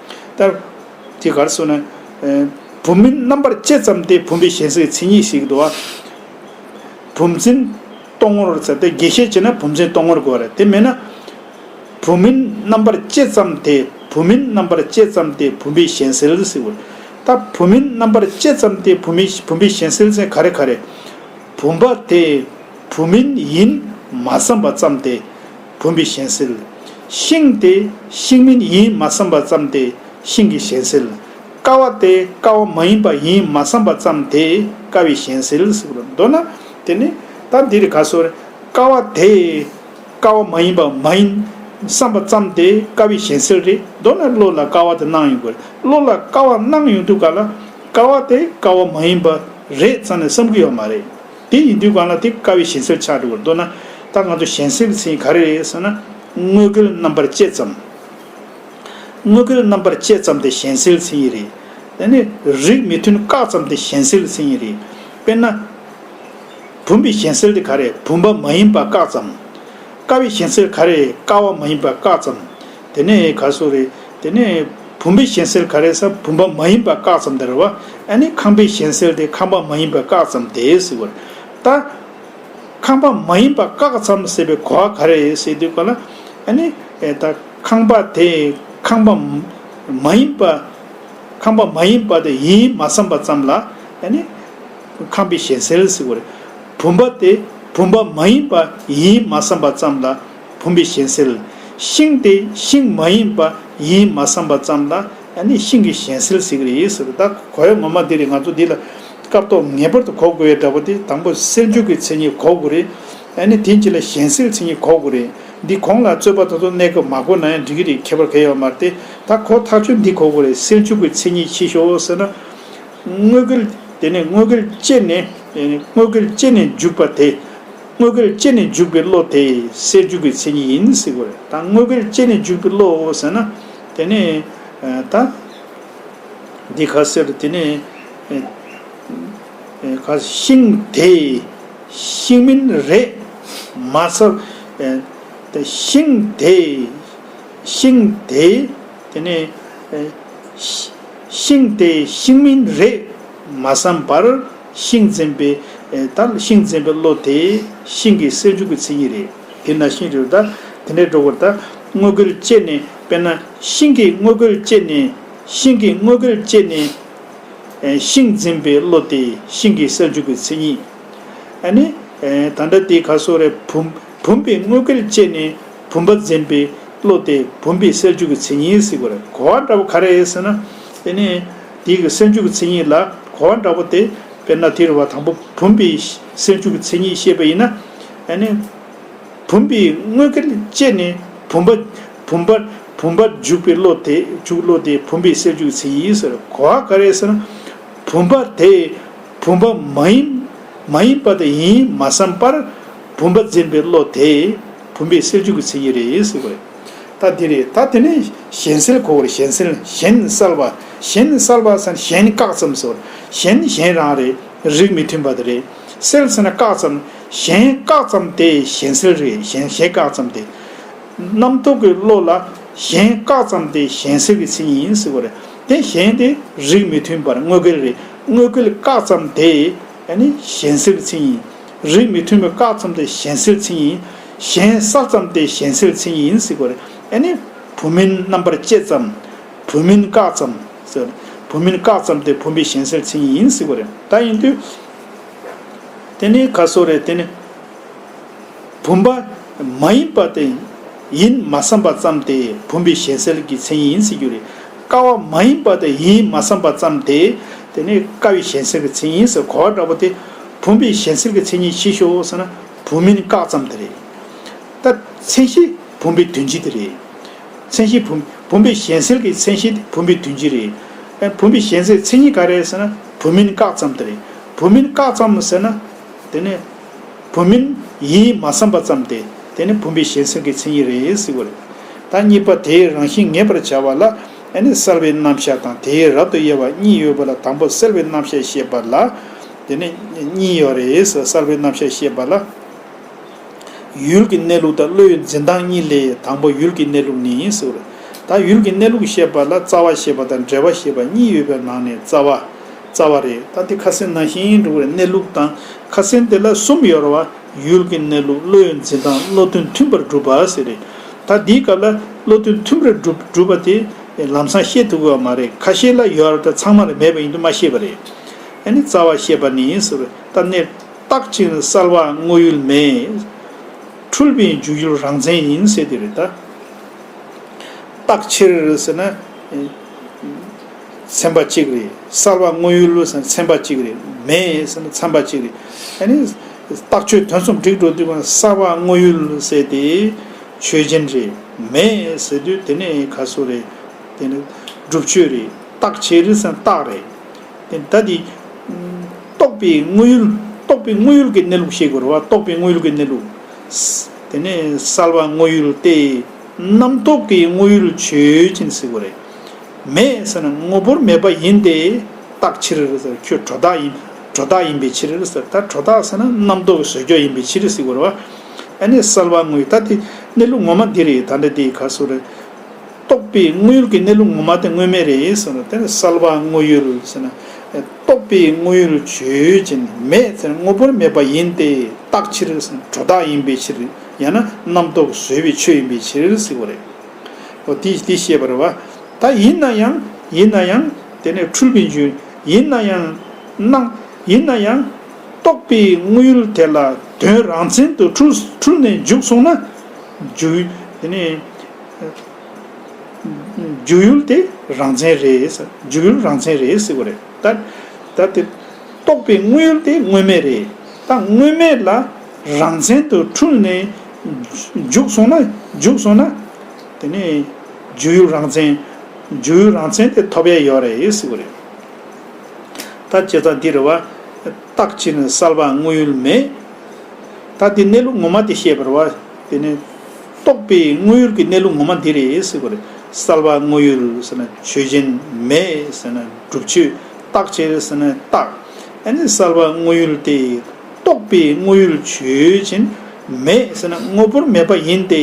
ལྟར། དེ་གར་སོང་ནས། བུམ་མིན་རྣམ་པར་བཅད་ཙམ་སྟེ་བུམ་པའི་ཞེས་སའི་མཚན་ཉིད་ཞིག་འདུ་བ། བུམ་འཛིན། སྟོང་ངོར་ཟེར་ཏེ་དགེ་བཤེས་བྱས་ན་བུམ་འཛིན་སྟོང་ངོར་དགོས་པ་རེད་དེ་མེད་ན། བུམ་མིན་རྣམ་པར་བཅད་ཙམ་སྟེ་བུམ་མིན་རྣམ་པར་བཅད་ཙམ་སྟེ་བུམ་པའི་ཞེན་སེལ་ཟེར་དགོས། ལྟ། བུམ་མིན་རྣམ་པར་བཅད་ཙམ་སྟེ་བུམ་མིན་བུམ་པའི་ཞེན་སེལ་མཚན་ག་རེ་ག་རེ། བུམ་པ་དེ་བུམ་མིན་ཡིན་མ་བསམ་པ་ཙམ་སྟེ། བུམ་པའི་གཞན་སེལ། ཤིང་དེ་ཤིང་མིན་ཡིན་མ་བསམ་པ་ཙམ་དེ་ཤིང་གི་གཞན་སེལ། ཀ་བ་དེ་ཀ་བ་མ་ཡིན་པ་ཡིན་མ་བསམ་པ་ཙམ་དེ་ཀ་བའི་གཞན་སེལ་ཟེར་གྱི་རེད། མདོར་ན། དེ་ནི། ད་འདིར་ག་སོ། ཀ་བ་དེ་ཀ་བ་མ་ཡིན་པ་མ་ཡིན་བསམ་པ་ཙམ་དེ་ཀ་བའི་གཞན་སེལ་རེད། མདོར་ན་བློ་ལ་ཀ་བ་དེ་སྣང་ཡོང་དགོས་རེད། བློ་ལ་ཀ་བ་སྣང་ཡོང་དུས་ག་ལ། ཀ་བ་དེ་ཀ་བ་མ་ཡིན་པ་རེད་བསམ་ནས་བསམ་གྱི་ཡོད་མ་རེད། དེ་ཡིན་དུས་གང་ལ་དེ་དཀའ་བའི་ཞེན་སེམས་ཆགས་འགྲོ་བར་འདོད་ན། ད་ང་ཚོ་ཞེན་སེམས་ཟིན་ག་རེ་རེད་ཟེར་ན། དངོས་བསྐལ་རྣམ་པར་དཔྱད་ཙམ། དངོས་བསྐལ་རྣམ་པར་དཔྱད་ཙམ་དེ་ཞེན་སེལ་ཟིན་ཡི་རེད། དེ་ནས་རིགས་མི་མཐུན་བཀག་ཙམ་དེ་ཞེན་སེལ་ཟིན་ཡི་རེད། དཔེར་ན། བུམ་པའི་ཞེན་སེལ་དེ་ག་རེ་བུམ་པ་མ་ཡིན་པ་བཀག་ཙམ། དཀའ་བའི་ཞེན་སེལ་ག་རེ་དཀའ་བ་མ་ཡིན་པ་བཀག་ཙམ། དེ་ནས་ག་སོ་རེད་དེ་ནས། བུམ་པའི་གཞན་སེལ་ག་རེ་ས་བུམ་པ་མ་ཡིན་པ་བཀག་ཙམ་དེ་རེད་བ། ཨ་ནི་ཁང་པའི་གཞན་སེལ་དེ་ཁང་པ་མ་ཡིན་པ་བཀག་ཙམ་དེ་ཟེར་བ་རེད། ད། ཁང་པ་མ་ཡིན་པ་བཀག་ཙམ་ཟེར་བའི་གོ་བ་ག་རེ་རེད་ཟེར་དུས་གོ་ན། ཨ་ནི། ད་ཁང་པ་དེ་ཁང་པ། མ་ཡིན་པ། ཁང་པ་མ་ཡིན་པ་དེ་ཡིན་མ་བསམ་པ་ཙམ་ལ། ཨ་ནི། ཁང་པའི་གཞན་སེལ་ཟེར་བ་རེད། བུམ་པ་དེ་བུམ་པ་མ་ཡིན་པ་ཡིན་མ་བསམ་པ་ཙམ་ལ། བུམ་པའི་གཞན་སེལ། ཤིང་དེ་ཤིང་མ་ཡིན་པ་ཡིན་མ་བསམ་པ་ཙམ་ལ་ཡང་ནི་ཤིང་གི་གཞན་སེལ་ཟེར་གི་རེད་ཟེར་རོ་ད་གོ་ཡ་ངོ་མ་འདི་རེད་ང་ཚོ་འདི་ལ་སྐབས་ཐོག་ངེས་པར་དུ་གོ་དགོས་ཡ་འདྲ་བོ་དེ་དང་པོ་སེལ་འཇུག་གི་མཚན་ཉིད་གོ་དགོས་རེད། ཡང་ནི་དེ་གཉིས་ལ་གཞན་སེལ་མཚན་ཉིད་གོ་དགོས་རེད། འདི་གོང་ལ་རྩོད་པ་ད་དུང་གནས་སྐབས་མ་གོ་ན་ཡང་འགྲིག་གི་རེད་ཁྱད་པར་ག་ཡའོ་མ་རེད་དེ་ད་གོ་ཐག་ཆོད་འདི་གོ་དགོས་རེད་སེལ་འཇུག་གི་མཚན་ཉིད་ཕྱིས་ཤོག་ཟེར་ན། དངོས་གལ་དེ་ནས་དངོས་གལ་སྤྱད་ནས་དངོས་གལ་སྤྱད་ནས་འཇུག་པ་དེ། དངོས་པོར་སྐྱེས་ནས་འཇུག་པའི་བློ་དེ་སའི་རྒྱུ་གི་མཚན་ཉིད་ཡིན་ཟེར་གི་རེད་ད་དངོས་པོར་སྐྱེས་ནས་འཇུག་པའི་བློ་ཟེར་ན་དེ་ནི་ད། འདི་ག་ཟེར་དེ་ནི། ག་ཤིང་དེ། ཤིང་མིན་རེད། མ་ཚབ། དེ་ཤིང་དེ། ཤིང་དེ། དེ་ནི། ཤིང་དེ་ཤིང་མིན་རེད། མ་བསམ་པར། ཤིང་འཛིན་པའི། དང། ཤིང་འཛིན་པའི་བློ་དེ། ཤིང་གི་སེལ་འཇུག་གི་ཚིག་ཉིད་རེད། དེས་ན་ཤིང་རེ་བ་དང། དེ་འདྲའི་སྒྲོ་སྐུར་དང། དངོས་ཀུན་བཅད་ནས། དཔེར་ན། ཤིང་གི་དངོས་ཀུན་བཅད་ནས། ཤིང་གི་དངོས་ཀུན་བཅད་ནས། ཤིང་འཛིན་པའི་བློ་དེ། ཤིང་གི་སེལ་འཇུག་གི་ཚིག་ཉིད། ཨ་ནི། དང། འདྲ་སྟེ་ཁ་སོ་རས་བུམ། བུམ་པའི་དངོས་ཀུན་བཅད་ནས། བུམ་པ་འཛིན་པའི་བློ་དེ། བུམ་པའི་སེལ་འཇུག་གི་ཚིག་ཉིད། གོ་བ་འདྲ་བོ་ག་རེ་ཟེར་ན། དེ་ནི། འདི་གི་སེམས་བཅུ་གི་མཚན་ཉིད་ལ་གོ་བ་འདྲ་བོ་སྟེ། དཔེར་ན་དེར་བ་དང་པོ་བུམ་པའི་སེམས་བཅུ་གི་མཚན་ཉིད་བཤད་པ་ཡིན་ན། ཨ་ནི། བུམ་པའི་དངོས་ཀྱི་དཔྱད་ནས་བུམ་པ། བུམ་པ། བུམ་པ་འཇུག་པའི་བློ་དེ་འཇུག་བློ་དེ་བུམ་པའི་སེམས་བཅུ་གི་མཚན་ཉིད་ཟེར་གོ་བ་ག་རེ་ཟེར་ན། བུམ་པ་དེ་བུམ་པ་མ་ཡིན། མ་ཡིན་པ་དང་ཡིན་མ་བསམ་པར། བུམ་པ་འཛིན་པའི་བློ་དེ་བུམ་པའི་སེམས་བཅུ་གི་མཚན་ཉིད་རེད་ཟེར་བ་རེད། ད་དེ་རེད་ད་དེ་ནི་གཞན་སེལ་གོ་བོར་གཞན་སེལ་གཞན་གསལ་བ་གཞན་གསལ་བ་ཟེར་ན་གཞན་ནི་བཀག་ཙམ་སོར་གཞན་ནི་གཞན་རང་རེད་རིགས་མི་མཐུན་པ་དེ་རེད་སེལ་ཟེར་ན་བཀག་ཙམ་གཞན་བཀག་ཙམ་དེ་གཞན་སེལ་རེད་གཞན་གཞན་བཀག་ཙམ་དེ། རྣམ་རྟོག་གི་བློ་ལ་གཞན་བཀག་ཙམ་དེ་གཞན་སེལ་གྱི་ཚིག་ཡིན་ཟེར་བ་རེད་དེ་གཞན་དེ་རིགས་མི་མཐུན་པར་དངོས་འགལ་རེད་དངོས་འགལ་བཀག་ཙམ་དེ་ནི་གཞན་སེལ་གྱི་ཚིག་ཡིན་རིགས་མི་མཐུན་པའི་བཀག་ཙམ་དེ་གཞན་སེལ་ཚིག་ཡིན། གཞན་ས་ཙམ་སྟེ་གཞན་སེལ་མཚན་ཉིད་ཡིན་སྲིད་པ་རེད་ཨེ་ནི། བུམ་མིན་རྣམ་པར་བཅད་ཙམ། བུམ་མིན་བཀག་ཙམ། ཟེར། བུམ་མིན་བཀག་ཙམ་སྟེ་བུམ་པའི་གཞན་སེལ་མཚན་ཉིད་ཡིན་སྲིད་པ་རེད་ད་ཡིན་དུས། དེ་ནི་ག་སོ་རེད་དེ་ནི། བུམ་པ། མ་ཡིན་པ་དེ། ཡིན་མ་བསམ་པ་ཙམ་དེ་བུམ་པའི་གཞན་སེལ་གྱི་མཚན་ཉིད་ཡིན་སྲིད་རྒྱུ་རེད། ཀ་བ་མ་ཡིན་པ་དེ་ཡིན་མ་བསམ་པ་ཙམ་དེ། དེ་ནི་ཀ་བའི་གཞན་སེལ་གྱི་མཚན་ཉིད་ཡིན་ཟེར་གོ་བ་འདྲ་པོ་དེ། བུམ་པའི་གཞན་སེལ་གྱི་མཚན་ཉིད་ཕྱིས་ཤོག་ཟེར་ན། བུམ་མིན་བཀག་ཙམ་དེ་རེད། ད། མཚན་གཞི་བུམ་པའི་དོན་སྤྱི་དེ་རེད། མཚན་གཞི་བུམ། བུམ་པའི་གཞན་སེལ་གྱི་མཚན་གཞི་དེ་བུམ་པའི་དོན་སྤྱི་རེད། ཨེ། བུམ་པའི་གཞན་སེལ་མཚན་ཉིད་ག་རེད་ཟེར་ན། བུམ་མིན་བཀག་ཙམ་དེ་རེད། བུམ་མིན་བཀག་ཙམ་ཟེར་ན། དེ་ནི། བུམ་མིན་ཡིན་མ་བསམ་པ་ཙམ་དེ། དེ་ནི་བུམ་པའི་གཞན་སེལ་གྱི་མཚན་ཉིད་རེད་ཟེར་བ་རེད། ད་གཉིས་པ་དེའི་རང་བཞིན་ངེས་པར་བྱ་བ་ལ། ཨེ་ནི་སེལ་བའི་རྣམ་གཞག་དང་དེའི་རབ་ཏུ་དབྱེ་བ་གཉིས་ཡོད་པ་ལ་དང་པོ་སེལ་བའི་རྣམ་གཞག་བཤད་པ་ལ། དེ་ནས་གཉིས་ཡོད་རེད་གསར་པའི་རྣམ་བཤད་ཤེས་པ་ལ། ཡུལ་གྱི་གནས་ལུགས་དང་བློའི་འཛིན་སྟངས་གཉིས་ལས་དང་པོ་ཡུལ་གྱི་གནས་ལུགས་ནི་ཡིན་ཟེར། ད་ཡུལ་གྱི་གནས་ལུགས་ཤེས་པ་ལ་རྩ་བ་ཤེས་པ་དང་འབྲེལ་བ་ཤེས་པ་གཉིས་ཡོད་པའི་ནང་ནས་རྩ་བ། རྩ་བ་རེད་ད་དེ་ཁ་སེམས་ནང་ཤེས་ཡོན་འགྲོ་བའི་གནས་ལུགས་དང་ཁ་སེམས་དེ་ལ་གསུམ་ཡོད་རེད་བ། ཡུལ་གྱི་གནས་ལུགས་བློའི་འཛིན་སྟངས་བློ་མཐུན་མཐུན་པར་སྒྲུབ་པ་ཟེར་རེད། ད་འདིའི་སྐབས་ལ་བློ་མཐུན་མཐུན་པར་སྒྲུབ་པ་དེ་ལམ་སང་ཤེས་ཐུབ་དགོས་བ་མ་རེད་ཁ་ཤས་ལ་ཡོད་རེད་ད་ཚང་མ་ལ་མེད་པ་ཡིན་དུ་མ་ཤེས་པ་རེད། ཨ་ནི་རྩ་བ་ཤེས་པ་ནི་ཟེར་བའི་རྟ་རྣས་བཏགས་ཕྱིན་གསལ་བ་དངོས་ཡུལ་མེད། འཁྲུལ་པའི་འཇུག་ཡུལ་རང་མཚན་ཡིན་ཟེར་དེ་རེད། བཏགས་ཕྱིར་ཟེར་ན། མཚན་པ་གཅིག་རེད་གསལ་བ་དངོས་ཡུལ་ཟེར་ན་མཚན་པ་གཅིག་རེད་མེད་ཟེར་ན་མཚན་པ་གཅིག་རེད། ཨ་ནི། བཏགས་ཆོས་དོན་གསུམ་སྒྲིག་འགྲོ་དུས་གང་གསལ་བ་དངོས་ཡུལ་ཟེར་ཏེ། ཆོས་ཅན་རེད་མེད་ཟེར་དུས་དེ་ནི་ག་སུ་རེད། དེ་ནི་སྒྲུབ་ཆོས་རེད་བཏགས་ཕྱིར་ཟེར་ན་རྟགས་རེད། ད་དེ། རྟོགས་པའི་དངོས་ཡུལ། རྟོགས་པའི་དངོས་ཡུལ་གྱི་གནས་ལུགས་ཤེས་དགོས་ར་བ་རྟོགས་པའི་དངོས་ཡུལ་གྱི་གནས་ལུགས། དེ་ནས་གསལ་བ་དངོས་ཡུལ་ཏེ། རྣམ་རྟོག་གི་དངོས་ཡུལ་ཆོས་ཅན་ཟེར་དགོས་རེད། མེད་ཟེར་ན་དངོས་པོར་མེད་པ་ཡིན་ཏེ། རྟགས་ཕྱིར་ཟེར་ཁྱོད་གྲོ་རྟགས་ཡིན། གྲོ་རྟགས་ཡིན་པའི་ཕྱིར་ཟེར་ད་གྲོ་རྟགས་ཟེར་ན་རྣམ་རྟོག་གི་ཟོལ་འཇོག་ཡིན་པའི་ཕྱིར་ཟེར་དགོས་ར་བ། ཨ་ནི་གསལ་བ་དངོས་ཡུལ་ད་དེ་གནས་ལུགས་ངོ་མ་འདི་རེད་ད་འདྲ་དེ་ག་སོ་རེད། རྟོག་པའི་དངོས་ཡུལ་གྱི་གནས་ལུགས་ངོ་མ་དེ་དངོས་མེད་རེད་ཟེར་ན་དེ་ལ་གསལ་བ་དངོས་ཡུལ་ཟེར་ན། རྟོག་པའི་དངོས་ཡུལ་བརྗོད་ཅིང་མེད་ཟེར་ན་དངོས་པོར་མེད་པ་ཡིན་ཏེ་རྟག་ཕྱིར་ཟེར་ན་དྲོ་བདག་ཡིན་པའི་ཕྱིར། ཡང་ན་རྣམ་རྟོག་བཟོད་པའི་ཆོས་ཡིན་པའི་ཕྱིར་ཟེར་བ་རེད། འོ་དེས་དེ་ཤེས་པར་བ། ད་ཡིན་ན་ཡང། ཡིན་ན་ཡང། དེ་ནས་འཁྲུལ་པའི་འཇུག། ཡིན་ན་ཡང། སྣང། ཡིན་ན་ཡང། རྟོག་པའི་དངོས་ཡུལ་དེ་ལ་དོན་རང་མཚན་དུ་འཁྲུལ་ནས་འཇུག་སོང་ན། འཇུག། དེ་ནས། འཇུག་ཡུལ་དེ་རང་མཚན་རེད། འཇུག་ཡུལ་རང་མཚན་རེད་ཟེར་བ་རེད། ད་དེ། རྟོགས་པའི་དངོས་ཡུལ་དེ་དངོས་མེད་རེད། ད་དངོས་མེད་ལ་རང་མཚན་དུ་འཁྲུལ་ནས། འཇུག་སོང་ན། འཇུག་སོང་ན། དེ་ནས། འཇུག་ཡུལ་རང་མཚན། འཇུག་ཡུལ་རང་མཚན་དེ་ཐོབ་ཡ་ཡོད་རེད་ཟེར་བ་རེད། ད་བྱས་ཙང་འདི་རེད་བ། རྟགས་ཕྱི་ནས་གསལ་བ་དངོས་ཡུལ་མེད། ད་འདི་གནས་ལུགས་ངོ་མ་དེ་ཤེས་པར་བ། དེ་ནི། རྟོགས་པའི་དངོས་ཡུལ་གྱི་གནས་ལུགས་ངོ་མ་འདི་རེད་ཟེར་བ་རེད། གསལ་བ་དངོས་ཡུལ་ཟེར་ན་ཆོས་ཅན། མེད་ཟེར་ན་སྒྲུབ་ཆོས། རྟག་ཆད་ཟེར་ན་རྟག། ཨེ་ནས་གསལ་བ་དངོས་ཡུལ་ཏེ། རྟོགས་པའི་དངོས་ཡུལ་ཆོས་ཅན། མེད་ཟེར་ན་དངོས་པོར་མེད་པ་ཡིན་ཏེ།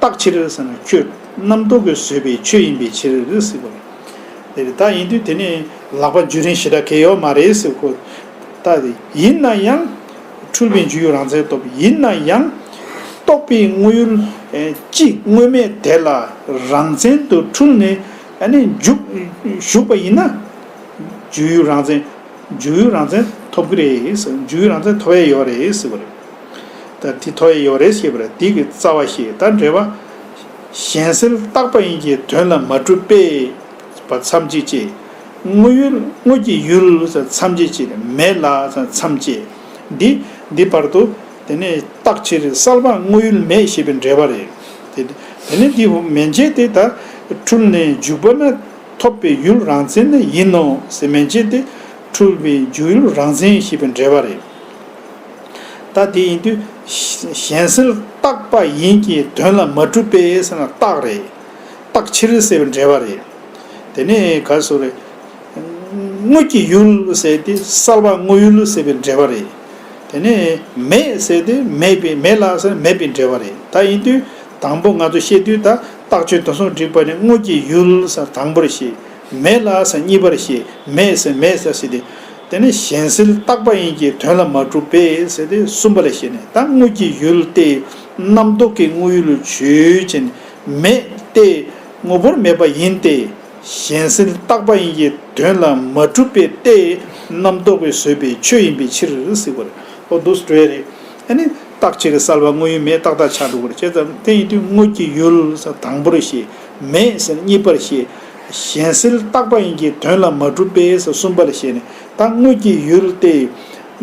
རྟག་ཕྱིར་ཟེར་ན་ཁྱོད་རྣམ་རྟོག་གིས་བཟོས་པའི་ཆོས་ཡིན་པའི་ཕྱིར་ཟེར་བ་རེད། དེ་རེད་ད་ཡིན་དུས་དེ་ནི་ལག་པ་འཇུ་རིན་ཞེ་དྲག་གེ་ཡོག་མ་རེད་ཟེར་བ་ཁོ་ཐག་རེད། ཡིན་ན་ཡང། འཁྲུལ་པའི་འཇུག་ཡུལ་རང་མཚན་སྟོབས་ཡིན་ན་ཡང། རྟོགས་པའི་དངོས་ཡུལ་གཅིག་དངོས་མེད་དེ་ལ་རང་མཚན་དུ་འཁྲུལ་ནས་བཞུགས་པ་ཡིན་ན། འཇུག་ཡུལ་རང་མཚན་འཇུག་ཡུལ་རང་མཚན་ཐོབ་ཀྱི་རེད། འཇུག་ཡུལ་རང་མཚན་ཐོབ་ཡས་ཡོད་རེད་ཟེར་བ་རེད། དེ་ཐོབ་ཡས་ཡོད་རེད་ཞེས་པ་རེད་དེ་གི་རྩ་བ་ཞེས་ད་འགྲེལ་བ། གཞན་སེལ་བཏགས་པ་ཡིན་གྱི་དོན་ལ་མ་གྲུབ་པས་པ་མཚམས་གཅིག་ཅེས། དངོས་ཡུལ་དངོས་ཀྱི་ཡུལ་མཚམས་བཅད་ཅེས་མེད་ལ་མཚམས་བཅད་དེ། འདི་བར་དུ་དེ་ནི་རྟག་ཕྱིར་གསལ་བ་དངོས་ཡུལ་མེད་ཞེས་པའི་འགྲེལ་བ་རེད། དེ་ནི་འདི་ཧོ་མན་ཆད་དེ་དག་འཁྲུལ་ནས་འཇུག་པ་ན་ཐོབ་པའི་ཡུལ་རང་མཚན་ནི་ཡིན་ནོ་ཟེར་མན་ཆད་དེ་འཁྲུལ་བའི་འཇུག་ཡུལ་རང་མཚན་ཞེས་པའི་འགྲེལ་བ་རེད། ད་དེ་ཡིན་དུས་གཞན་སེལ་རྟག་པ་ཡིན་གྱི་དོན་ལ་མ་གྲུབ་པས་རྟག་རེད། རྟག་ཕྱིར་གསལ་བའི་འགྲེལ་བ་རེད། དེ་ནི་ག་ཟུག་རེད། དངུལ་གྱི་ཡུལ་ཟེར་དུས་གསར་པ་དངོས་ཡུལ་ཟེར་བའི་འབྲེལ་བ་རེད། དེ་ནི་མེད་ཟེར་དུས་མེད་པའི་མེད་ལག་ཟེར་མེད་པའི་འབྲེལ་བ་རེད་ད་ཡིན་དུས་དང་པོ་ང་ཚོ་བཤད་དུས་ད་ལྟག་ཆོད་དོན་སོགས་འགྲིག་པ་ནི་དངུལ་གྱི་ཡུལ་ཟེར་དང་པོར་བཤད། མེད་ལག་ཟེར་གཉིས་པར་བཤད་མེད་ཟེར་མེད་ཟེར་ཟེར་ཏེ། དེ་ནི་གཞན་སེལ་རྟག་པ་ཡིན་གྱི་དོན་ལ་མ་གྲུབ་པས་ཟེར་ཏེ་གསུམ་པ་ལས་བཤད་ནས་ད་དངུལ་གྱི་ཡུལ་ཏེ། རྣམ་རྟོག་གི་དངོས་ཡུལ་ལུས་བྱོས་ཅན་མེད་ཏེ། ངོ་བོར་མེད་པ་ཡིན་ཏེ། གཞན་སེལ་རྟག་པ་ཡིན་གྱི་དོན་ལ་མ་གྲུབ་པས་ཏེ། རྣམ་རྟོག་པས་བཟོས་པའི་ཆོས་ཡིན་པའི་ཕྱིར། སིག་བར་ཨོ་འདུག་སྤྲོས་རེད། ཨེ་ནི། རྟག་ཆད་ཀྱི་བསལ་བ་དངོས་ཡུལ་མེད་རྟག་དག་ཆགས་འགྲོ་བར་བྱེད། དེ་ཡིན་དུས་དངོས་ཀྱི་ཡུལ། དང་པོར་ཞེས། མེད་ཟེར་གཉིས་པར་བཤད། གཞན་སེལ་རྟག་པ་ཡིན་གྱི་དོན་ལ་མ་གྲུབ་པས་གསུམ་པར་བཤད་ནས། ད་དངོས་ཀྱི་ཡུལ་ཏེ།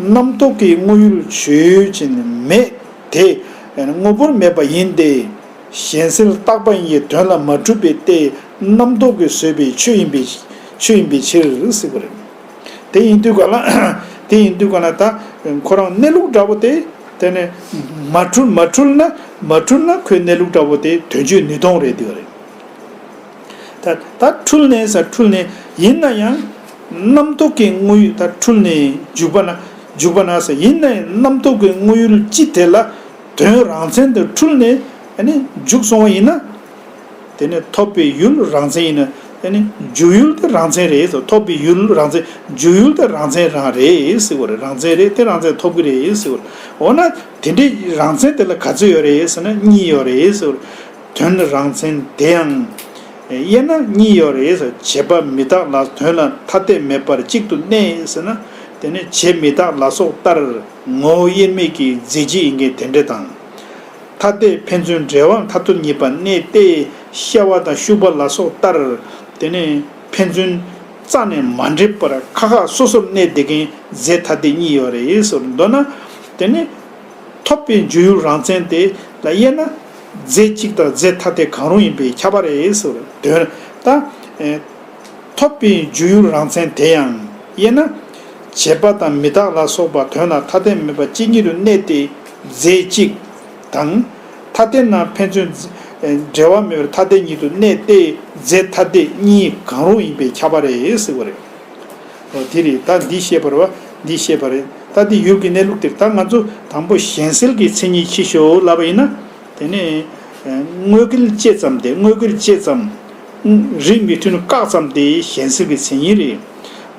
རྣམ་རྟོག་གི་དངོས་ཡུལ་ཆོས་ཅན་མེད་དེ། ངོ་བོར་མེད་པ་ཡིན་ཏེ། གཞན་སེལ་རྟག་པ་ཡི་དོན་ལ་མ་གྲུབ་པའི་ལྟས་རྣམ་རྟོག་གིས་བཟོས་པའི་ཆོས་ཡིན་པའི་ཆོས་ཡིན་པའི་ཕྱིར་སྲིད་པ་རེད། དེ་ཡིན་དུས་ག་ལ་དེ་ཡིན་དུས་ག་ལ་ད་ཁོ་རང་གནས་ལུགས་འདྲ་བོ་དེ་དེ་ནི་མ་འཁྲུལ་མ་འཁྲུལ་ན་མ་འཁྲུལ་ན་ཁོའི་གནས་ལུགས་འདྲ་བོ་དེ་དོན་གཅོད་ནུས་སྟོང་རེད་དེ་རེད། ད་ད་འཁྲུལ་ནས་ས་འཁྲུལ་ནས་ཡིན་ན་ཡང་རྣམ་རྟོག་གི་དངོས་ཡུལ་ད་འཁྲུལ་ནས་འཇུག་པ་ན་འཇུག་པ་ན་ས་ཡིན་ན་ཡང་རྣམ་རྟོག་གི་དངོས་ཡུལ་སྤྱི་དེ་ལ་དོན་རང་མཚན་དུ་འཁྲུལ་ནས་འཇུག་སོང་བ་ཡིན་ན། དེ་ནི་ཐོབ་པའི་ཡུལ་རང་མཚན་ཡིན། འཇུག་ཡུལ་དེ་རང་མཚན་རེད་ཟེར་ཐོབ་པའི་ཡུལ་རང་མཚན་འཇུག་ཡུལ་དེ་རང་མཚན་རང་རེད་ཟེར་བ་རེད་རང་མཚན་རེད་དེ་རང་མཚན་ཐོབ་གི་རེད་ཟེར་བ་རེད། འོ་ན་དེ་འདྲའི་རང་མཚན་དེ་ལ་ག་ཚོད་ཡོད་རེད་ཟེར་ན་གཉིས་ཡོད་རེད་ཟེར་བ་རེད། དོན་རང་མཚན་དེ་ཡང་དབྱེ་ན་གཉིས་ཡོད་རེད་ཟེར་བྱེད་པ་མི་དག་ལ་དོན་ལ་ཐ་དད་མེད་པར་གཅིག་ཏུ་གནས་ཟེར་ན་དེ་ནི་བྱེད་མི་དག་ལ་སོགས་ལྟར། ངོ་བོ་དབྱེར་མེད་ཀྱི་རྫས་སྤྱི་ཡི་འགལ་ཟླའི་འབྲེལ་དང། ཐ་དད་ཕན་ཚུན་འབྲེལ་བའམ་ཐ་ཐུར་ཉེས་པ་གནས་ཏེ་གཤེ་བ་དང་ཤུག་པ་ལ་སོགས་ལྟར། དེ་ནི་ཕན་ཚུན་རྩ་ནས་མ་འབྲེལ་པར་ཁ་ཁ་སོ་སོར་གནས་བདེ་མཁན་རྫས་ཐ་དད་གཉིས་ཡོད་རེད་ཟེར་འདོད་ན། དེ་ནི་ཐོབ་པའི་འཇུག་ཡུལ་རང་མཚན་དེ་ལ་དབྱེ་ན། རྫས་གཅིག་དང་རྫས་ཐ་དད་གང་རུང་ཡིན་པས་ཁྱབ་པ་རེད་ཟེར་འདོད་ད། ཐོབ་པའི་འཇུག་ཡུལ་རང་མཚན་དེ་ཡང་དབྱེ་ན། བྱེད་པ་དང་མི་དག་ལ་སོགས་པ་དོན་ལ་ཐ་དད་མེད་པ་གཅིག་ཉིད་དུ་གནས་ཏེ་རྫས་གཅིག། དང། ཐ་དད་ན་ཕན་ཚུན། འབྲེལ་བ་མེད་པར་ཐ་དད་ཉིད་དུ་གནས་ཏེ་རྫས་ཐ་དད་གཉིས་གང་རུང་ཡིན་པས་ཁྱབ་པ་རེད་ཟེར་བ་རེད། འོ་དེ་རེད་ད་འདི་ཤེས་པར་བ་འདི་ཤེས་པ་རེད་ད་དེ་ཡུལ་གྱི་གནས་ལུགས་དེར་ད་ང་ཚོ་དང་པོ་གཞན་སེལ་གྱི་མཚན་ཉིད་ཕྱི་བཞོ་ལབ་པ་ཡིན་ན། དེ་ནས། དངོས་སྐལ་བཅད་ཙམ་སྟེ་དངོས་སྐལ་བཅད་ཙམ། རིགས་མི་མཐུན་བཀག་ཙམ་སྟེ་གཞན་སེལ་གྱི་མཚན་ཉིད་རེད།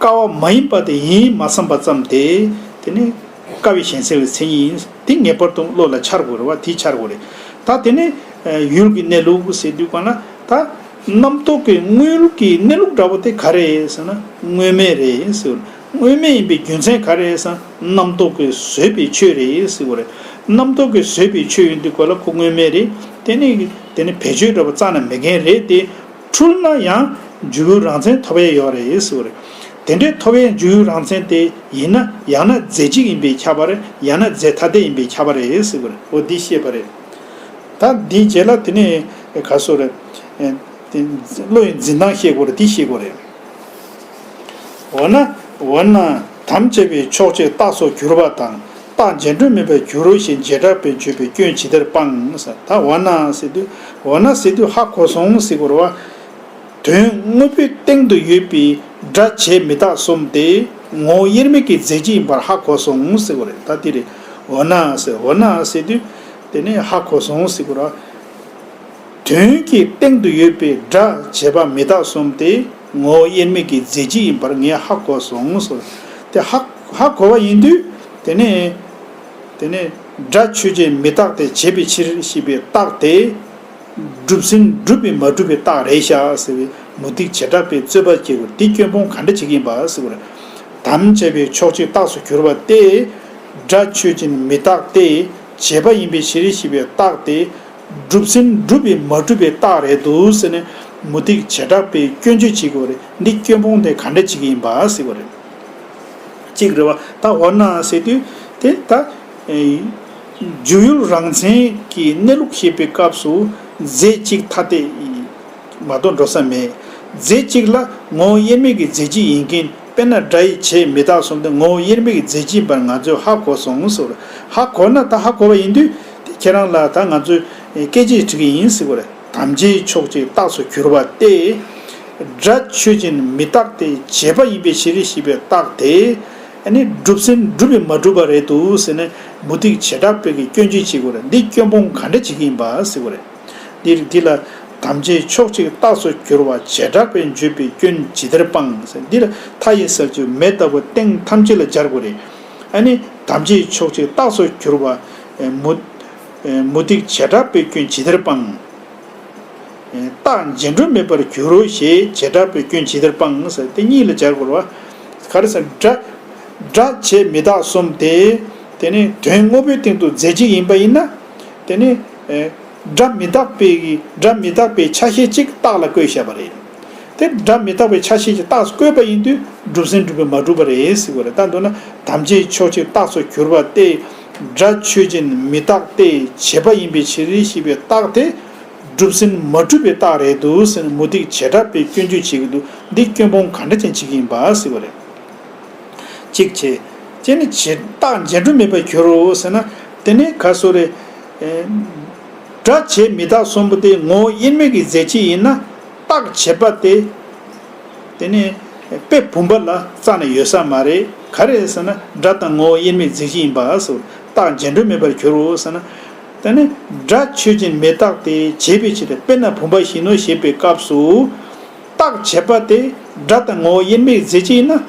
དཀའ་བ་མ་ཡིན་པ་དེ་ཡིན་མ་བསམ་པ་ཙམ་དེ། དེ་ནི། དཀའ་བའི་གཞན་སེལ་བའི་མཚན་ཉིད་ཡིན། དེ་ངེས་པར་དུ་བློ་ལ་འཆར་དགོས་རེ་བ་དེ་འཆར་དགོས་རེད། ད་དེ་ནི། ཡུལ་གྱི་གནས་ལུགས་ཟེར་དུས་གང་ན། ད། རྣམ་རྟོག་གི་དངོས་ཀྱི་གནས་ལུགས་འདྲ་བོ་དེ་ག་རེད་ཟེར་ན། དངོས་མེད་རེད་ཟེར་དགོས། དངོས་མེད་ཡིན་པའི་རྒྱུ་མཚན་ག་རེད་ཟེར་ན། རྣམ་རྟོག་གིས་བཟོས་པའི་ཆོས་རེད་ཟེར་དགོས་རེད། རྣམ་རྟོག་གིས་བཟོས་པའི་ཆོས་ཡིན་དུས་གོ་ལ་ཁོ་དངོས་མེད་རེད། དེ་ནི། དེ་ནི་བེད་སྤྱོད་འདྲ་བོ་རྩ་ན་མེད་མཁན་རེད་དེ། འཁྲུལ་ན་ཡང་འཇུག་ཡུལ་རང་མཚན་ཐོབ་ཡས་ཡོད་རེད་ཟེར་བ་རེད། དེ་འདྲའི་ཐོབ་ཡས་འཇུག་ཡུལ་རང་མཚན་དེ་ཡིན་ན་ཡང་ན་རྫས་གཅིག་ཡིན་པས་ཁྱབ་པ་རེད་ཡང་ན་རྫས་ཐ་དད་ཡིན་པས་ཁྱབ་པ་རེད་ཟེར་བ་རེད་འོ་འདི་ཤེས་པ་རེད། ད་འདིའི་རྗེས་ལ་དེ་ནས་ག་སོ་རེད། བློ་ཡི་འཛིན་སྟངས་ཤེས་དགོས་རེད་འདི་ཤེས་དགོས་རེད། འོ་ན། དམ་བཅས་པའི་ཕྱོགས་ཆོས་རྟགས་སོགས་གྱུར་པ་དང་རྟགས་མཇལ་འཕྲོ་མེད་པར་འགྱུར་རོ་ཞེས་མཇལ་དྲག་པས་མཆོད་པའི་སྐྱོན་ཇི་ལྟར་སྤང། ད་འོ་ན་སི་ཏུ། འོ་ན་སི་ཏུ་ཧ་གོ་སོང་སི་གོ་ར་བ། དོན་དངོས་པོའི་སྟེང་དུ་ཡོད་པའི་སྒྲ་བྱས་མི་རྟག་གསུམ་སྟེ་ངོ་བོ་དབྱེར་མེད་ཀྱི་རྫས་གཅིག་ཡིན་པར་ཧ་གོ་སོང་སི་གོ་རེ་ད་དེ་རེ། འོ་ན་སི་འོ་ན་སི་ཏུ། དེ་ནི་ཧ་གོ་སོང་སི་གོ་ར་བ། དོན་གྱི་སྟེང་དུ་ཡོད་པའི་སྒྲ་བྱས་པ་མི་རྟག་གསུམ་སྟེ། ངོ་བོ་དབྱེར་མེད་ཀྱི་རྫས་གཅིག་ཡིན་པར་ངས་ཧ་གོ་སོང་ཟེར། དེ་ཧ་ཧ་གོ་བ་ཡིན་དུས། དེ་ནས། དེ་ནས། སྒྲ་ཆོས་ཅན་མི་རྟག་སྟེ་བྱས་པའི་ཕྱིར་ཞེས་པའི་རྟགས་དེ། གྲུབ་ཟིན་གྲུབ་པའི་མ་གྲུབ་པའི་རྟགས་རེད་ཤག་ཟེར་བའི་མུ་སྟེགས་བྱེ་བྲག་པའི་རྩོད་པ་སྐྱེ་དགོས་དེ་སྐྱོན་སྤོང་ག་འདྲ་བྱེད་ཀྱི་ཡིན་པ་ཟེར་བར། དམ་བཅས་པའི་ཕྱོགས་གཅིག་རྟགས་སུ་གྱུར་པ་སྟེ། སྒྲ་ཆོས་ཅན་མི་རྟག་སྟེ་བྱས་པ་ཡིན་པའི་ཕྱིར་ཞེས་པའི་རྟགས་དེ། སྒྲུབ་ཟིན་སྒྲུབ་པའི་མ་སྒྲུབ་པའི་རྟགས་རེད་འདུག་ཟེར་ནས་མུ་སྟེགས་བྱེ་བྲག་པས་སྐྱོན་བརྗོད་བྱེད་དགོས་རེད་འདི་སྐྱོན་སྤོང་དེ་ག་འདྲ་བྱེད་ཀྱི་ཡིན་པ་ཟེར་བ་རེད། གཅིག་རེད་བ་ད་འོ་ན་ཟེར་དུས་དེ་ད། འཇུག་ཡུལ་རང་མཚན་གྱི་གནས་ལུགས་བཤད་པའི་སྐབས་སུ་རྫས་གཅིག་ཐ་དད་མ་གཏོགས་འགྲོ་ས་མེད། རྫས་གཅིག་ལ་ངོ་བོ་དབྱེར་མེད་ཀྱི་རྫས་གཅིག་ཡིན་རྐྱེན། དཔེར་ན་སྒྲ་ཡིས་བྱས་མི་རྟག་གསུམ་དུ་ངོ་བོ་དབྱེར་མེད་ཀྱི་རྫས་གཅིག་ཡིན་པར་ང་ཚོས་ཧ་གོ་སོང་ཟེར་བ། ཧ་གོ་ན་ད་ཧ་གོ་བ་ཡིན་དུས། ཁྱེད་རང་ལ་ད་ང་ཚོས་སྐད་ཅིག་བྲི་གི་ཡིན་ཟེར་བ་ལས་དམ་བཅའི་ཕྱོགས་གཅིག་རྟགས་སུ་གྱུར་པ་སྟེ། སྒྲ་ཆོས་ཅན་མི་རྟག་སྟེ་བྱས་པ་ཡིན་པའི་ཕྱིར་རེ་ཞིག་པའི་རྟགས་དེ། ནི་སྒྲུབ་སེམས་སྒྲུབ་པས་མ་གྲུབ་པ་རེད་འདུག་ཟེར་ནས་མུ་སྟེགས་བྱེ་བྲག་སྤེལ་གྱི་སྐྱོན་བརྗོད་བྱེད་དགོས་ར་འདི་སྐྱོན་སྤོང་ག་འདྲ་བྱེད་ཀྱི་ཡིན་པ་ཟེར་བ་རེད། འདིར་འདི་ལ་དམ་བཅའི་ཕྱོགས་གཅིག་རྟགས་སུ་གྱུར་བ་བྱེ་བྲག་པའི་བརྗོད་པའི་སྐྱོན་ཇི་ལྟར་སྤང། འདི་ལ་མཐའ་ཡི་ས་བཅུ་མེ་ལྟ་བུ་སྟེང་ཐམས་ཅད་ལ་སྦྱར་དགོས་རེད། ཨ་ནི་དམ་བཅའི་ཕྱོགས་གཅིག་རྟགས་སུ་གྱུར་བ། མུ་སྟེགས་བྱེ་བྲག་པའི་སྐྱོན་ཇི་ལྟར་སྤང། རྟགས་རྗེས་འགྲོ་མེད་པར་འགྱུར་རོ་ཞེས་བྱེ་བྲག་པའི་སྐྱོན་ཇི་ལྟར་སྤང། དེ་གཉིས་ལ་སྦྱར་དགོས་རེད། གར་སེམས་སྒྲ། བྱེད་མི་རྟག་གསུམ་སྟེ། དེ་ནི་དོན་དངོས་པོའི་སྟེང་དུ་རྫས་གཅིག་ཡིན་པ་ཡིན་ན། དེ་ནི། སྒྲ་མི་རྟག་པའི་སྒྲ་མི་རྟག་པའི་ཆ་ཤས་གཅིག་རྟགས་ལ་བཀོད་བཤད་པ་རེད། དེ་སྒྲ་མི་རྟག་པའི་ཆ་ཤས་ཀྱི་རྟགས་སུ་བཀོད་པ་ཡིན་དུས་སྒྲུབ་ཟིན་སྒྲུབ་པའི་མ་གྲུབ་པ་རེད་ཟེར་དགོས་རེད་ལྟ་འདུག་ན་དམ་བཅའི་ཕྱོགས་གཅིག་རྟགས་སུ་གྱུར་པ་སྟེ། སྒྲ་ཆོས་ཅན་མི་རྟག་སྟེ་བྱེད་པ་ཡིན་པའི་ཕྱིར་ཞེས་པའི་རྟགས་དེ། སྒྲུབ་ཟིན་མ་གྲུབ་པའི་རྟགས་རེད་འདུག་ཟེར་ནས་མུ་སྟེགས་བྱེད་གྲྭ་པས་སྐྱོན་བརྗོད་བྱེད་ཀྱི་འདུག་འདི་སྐྱོན་སྤོང་ག་འདྲ་ཅན་བྱེད་ཀྱི་ཡིན་པ་ཟེར་བ་རེད། ཅིག་བྱེད། ཅེས་ནི་བྱེད་རྟགས་འཇལ་སྒྲོན་མེད་པར་གྱུར་ཟེར་ན། དེ་ནི་ག་སོ་རེད། སྒྲ་བྱས་མི་རྟག་གསུམ་པོ་དེ་ངོ་བོ་དབྱེར་མེད་ཀྱི་རྫས་གཅིག་ཡིན་ན། རྟགས་བྱེད་པ་དེ། དེ་ནི། དཔེ་བུམ་པ་ལ་རྩ་ནས་ཡོད་ས་མ་རེད། ག་རེད་ཟེར་ན་སྒྲ་དང་ངོ་བོ་དབྱེར་མེད་རྫས་གཅིག་ཡིན་པ་སོ། རྟགས་འཇལ་སྒྲོན་མེད་པར་གྱུར་ཟེར་ན། དེ་ནི། སྒྲ་ཆོས་ཅན་མི་རྟག་དེ་བྱེད་པའི་ཆེད་དུ་དཔེར་ན་བུམ་པ་བཞིན་ནོ་ཞེས་པའི་སྐབས་སུ། བརྟག་བྱེད་པ་དེ་སྒྲ་དང་ངོ་བོ་དབྱེར་མེད་རྫས་གཅིག་ཡིན་ན།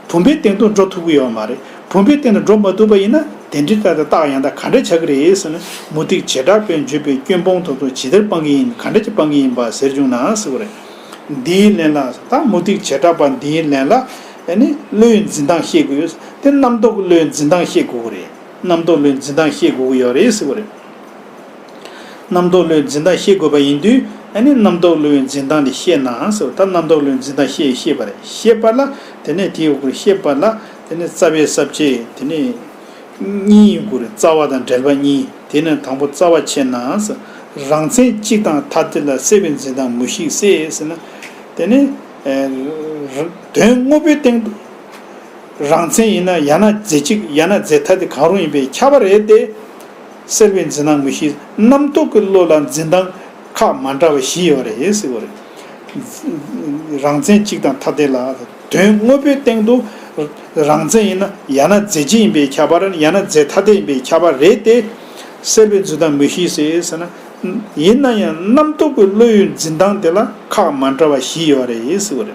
བུམ་པའི་སྟེང་དུ་འགྲོ་ཐུབ་ཀྱི་ཡོད་མ་རེད། བུམ་པའི་སྟེང་དུ་འགྲོ་མ་ཐུབ་པ་ཡིན་ན་དེ་འདྲའི་སྐབས་དེ་རྟགས་ཡང་དག་ག་འདྲ་བྱ་གི་རེད་ཟེར་ན་མུ་སྟེགས་བྱེད་དྲག་པོས་འཇུས་པའི་སྐྱོན་སྤོང་ཐུབ་ཐུབ་ཇི་ལྟར་སྤང་གི་ཡིན་ག་འདྲ་གྱིས་སྤང་གི་ཡིན་པ་ཟེར་བྱུང་ན་ཟེར་བ་རེད། འདིའི་ལན་ལ་ད་མུ་སྟེགས་བྱེད་དྲག་པ་འདིའི་ལན་ལ། ནི་བློའི་འཛིན་སྟངས་ཤེས་དགོས་ཡོད། དེ་རྣམ་རྟོག་གི་བློའི་འཛིན་སྟངས་ཤེས་དགོས་ཀྱི་རེད། རྣམ་རྟོག་བློའི་འཛིན་སྟངས་ཤེས་དགོས་ཀྱི་ཡོད་རེད་ཟེར་བ་རེད། རྣམ་རྟོག་བློའི་འཛིན་སྟངས་ཤེས་དགོས་པ་ཡིན་དུས་ཨ་ནི་རྣམ་རྟོག་བློའི་འཛིན་སྟངས་དེ་ཤེས་ནའང་ཟེར་བ་ལྟར་རྣམ་རྟོག་བློའི་འཛིན་སྟངས་ཤེས་ཤེས་པ་རེད་ཤེས་པ་ལ་དེ་ནས་དེའི་དབུ་གུར་ཤེས་པ་ལ་དེ་ནས་རྩ་བའི་གསར་བརྗེ་དེ་ནས་གཉིས་ཡིན་དགོས་རེད་རྩ་བ་དང་འབྲེལ་པ་གཉིས་དེ་ནས་དང་པོ་རྩ་བ་ཕྱེ་ནའང་ཟེར་རང་མཚན་གཅིག་དང་ཐ་དད་ལ་གསལ་བའི་འཛིན་སྟངས་མུ་ཞིག་གསལ་ཟེར་ན་དེ་ནས་དོན་དངོས་པོའི་སྟེང་དུ་རང་མཚན་ཡིན་ན་ཡང་ན་རྫས་གཅིག་ཡང་ན་རྫས་ཐ་དད་གང་རུང་ཡིན་པས་ཁྱབ་པ་རེད་དེ། གསལ་བའི་འཛིན་སྣང་མུ་བཞི་རྣམ་རྟོག་གི་བློ་ལ་འཛིན་སྟངས་ཁག་མ་འདྲ་བ་བཞི་ཡོད་རེད། རང་མཚན་གཅིག་དང་ཐ་དད་ལ། དོན་དངོས་པོའི་སྟེང་དུ་རང་མཚན་ཡིན་ན་ཡང་ན་རྫས་གཅིག་ཡིན་པའི་ཁྱད་པར་ཡང་ན་རྫས་ཐ་དད་ཡིན་པའི་ཁྱད་པར་རེད་དེ། གསལ་བའི་འཛིན་སྟངས་མུ་བཞི་ཟེར་ན། ཡིན་ན་ཡང་རྣམ་རྟོག་གི་བློའི་འཛིན་སྟངས་དེ་ལ་ཁག་མ་འདྲ་བ་བཞི་ཡོད་རེད།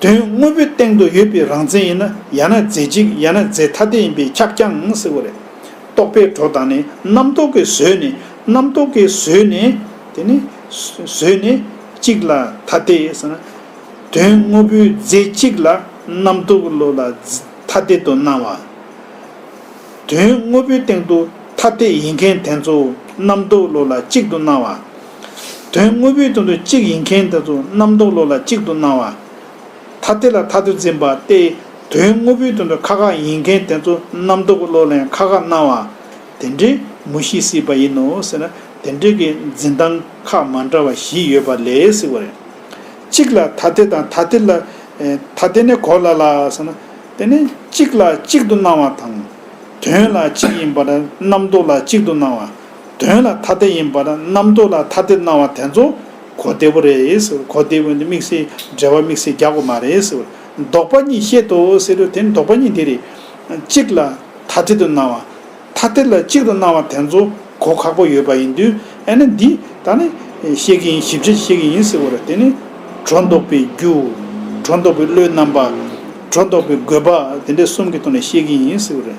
དོན་དངོས་པོའི་སྟེང་དུ་ཡོད་པའི་རང་མཚན་ཡིན་ན་ཡང་ན་རྫས་གཅིག་ཡང་ན་རྫས་ཐ་དད་ཡིན་པས་ཁྱབ་ཀྱང་སྲིད་པ་རེད། རྟོག་པའི་གྲོགས་དང་ནི་རྣམ་རྟོག་གི་ཟོལ་ནི་རྣམ་རྟོག་གི་ཟོལ་ནི། དེ་ནི། ཟོལ་ནི། གཅིག་ལ་ཐ་དད་ཟེར་ན། དོན་དངོས་པོའི་རྫས་གཅིག་ལ་རྣམ་རྟོག་གི་བློ་ལ་ཐ་དད་དུ་སྣང་བ། དོན་དངོས་པོའི་སྟེང་དུ་ཐ་དད་ཡིན་མཁན་དེ་ཚོ་རྣམ་རྟོག་གི་བློ་ལ་གཅིག་ཏུ་སྣང་བ། དོན་དངོས་པོའི་དོན་དུ་གཅིག་ཡིན་མཁན་དེ་ཚོ་རྣམ་རྟོག་བློ་ལ་གཅིག་ཏུ་སྣང་བ། ཐ་དད་ལ་ཐ་དུ་འཛིན་པ་སྟེ་དོན་དངོས་པོའི་དོན་དུ་ཁ་ཁ་ཡིན་མཁན་དེ་ཚོ་རྣམ་རྟོག་གི་བློ་ལན་ཁ་ཁ་སྣང་བ། དེ་འདྲའི་མུ་ཤི་སྲིད་པ་ཡིན་ནོ་ཟེར་ན་དེ་འདྲའི་གི་འཛིན་སྟངས་ཁག་མ་འདྲ་བ་བཞི་ཡོད་པ་ལས་སྲིད་བ་རེད། གཅིག་ལ་ཐ་དད་དང་ཐ་དད་ལ་ཐ་དད་ནི་གོ་སླ་ལ་ཟེར་ན་དེ་ནི་གཅིག་ལ་གཅིག་ཏུ་སྣང་བ་དང། དོན་ལ་གཅིག་ཡིན་པ་རྣམ་རྟོག་ལ་གཅིག་ཏུ་སྣང་བ། དོན་ལ་ཐ་དད་ཡིན་པར་རྣམ་རྟོག་ལ་ཐ་དད་སྣང་བ་དེ་ཚོ་གོ་བདེ་པོ་རེད་ཟེར་བ་གོ་བདེ་བོ་འདི་དམིགས་བསལ་འགྲེལ་བ་དམིགས་བསལ་རྒྱག་དགོས་མ་རེད་ཟེར་བ་ལྡོག་པ་གཉིས་བཤད་དོ་ཟེར་རོ་དེ་ནི་ལྡོག་པ་གཉིས་འདི་རེད། གཅིག་ལ་ཐ་དད་དུ་སྣང་བ་ཐ་དད་ལ་གཅིག་ཏུ་སྣང་བ་དེ་ཚོ་གོ་ཁག་པོ་ཡོད་པ་ཡིན་དུས་ཨེ་ན་འདི་ད་ནི་བཤད་ཀྱི་ཡིན་ཞིབ་ཆ་བྱེད་ཀྱི་ཡིན་ཟེར་བ་རེད་དེ་ནི་སྒྲོ་འདོགས་པའི་རྒྱུ། སྒྲོ་འདོགས་པའི་བློའི་རྣམ་པ། སྒྲོ་འདོགས་པའི་དགོས་པ་དེ་འདྲས་གསུམ་གྱི་ཐོག་ནས་བཤད་ཀྱི་ཡིན་ཟེར་བ་རེད།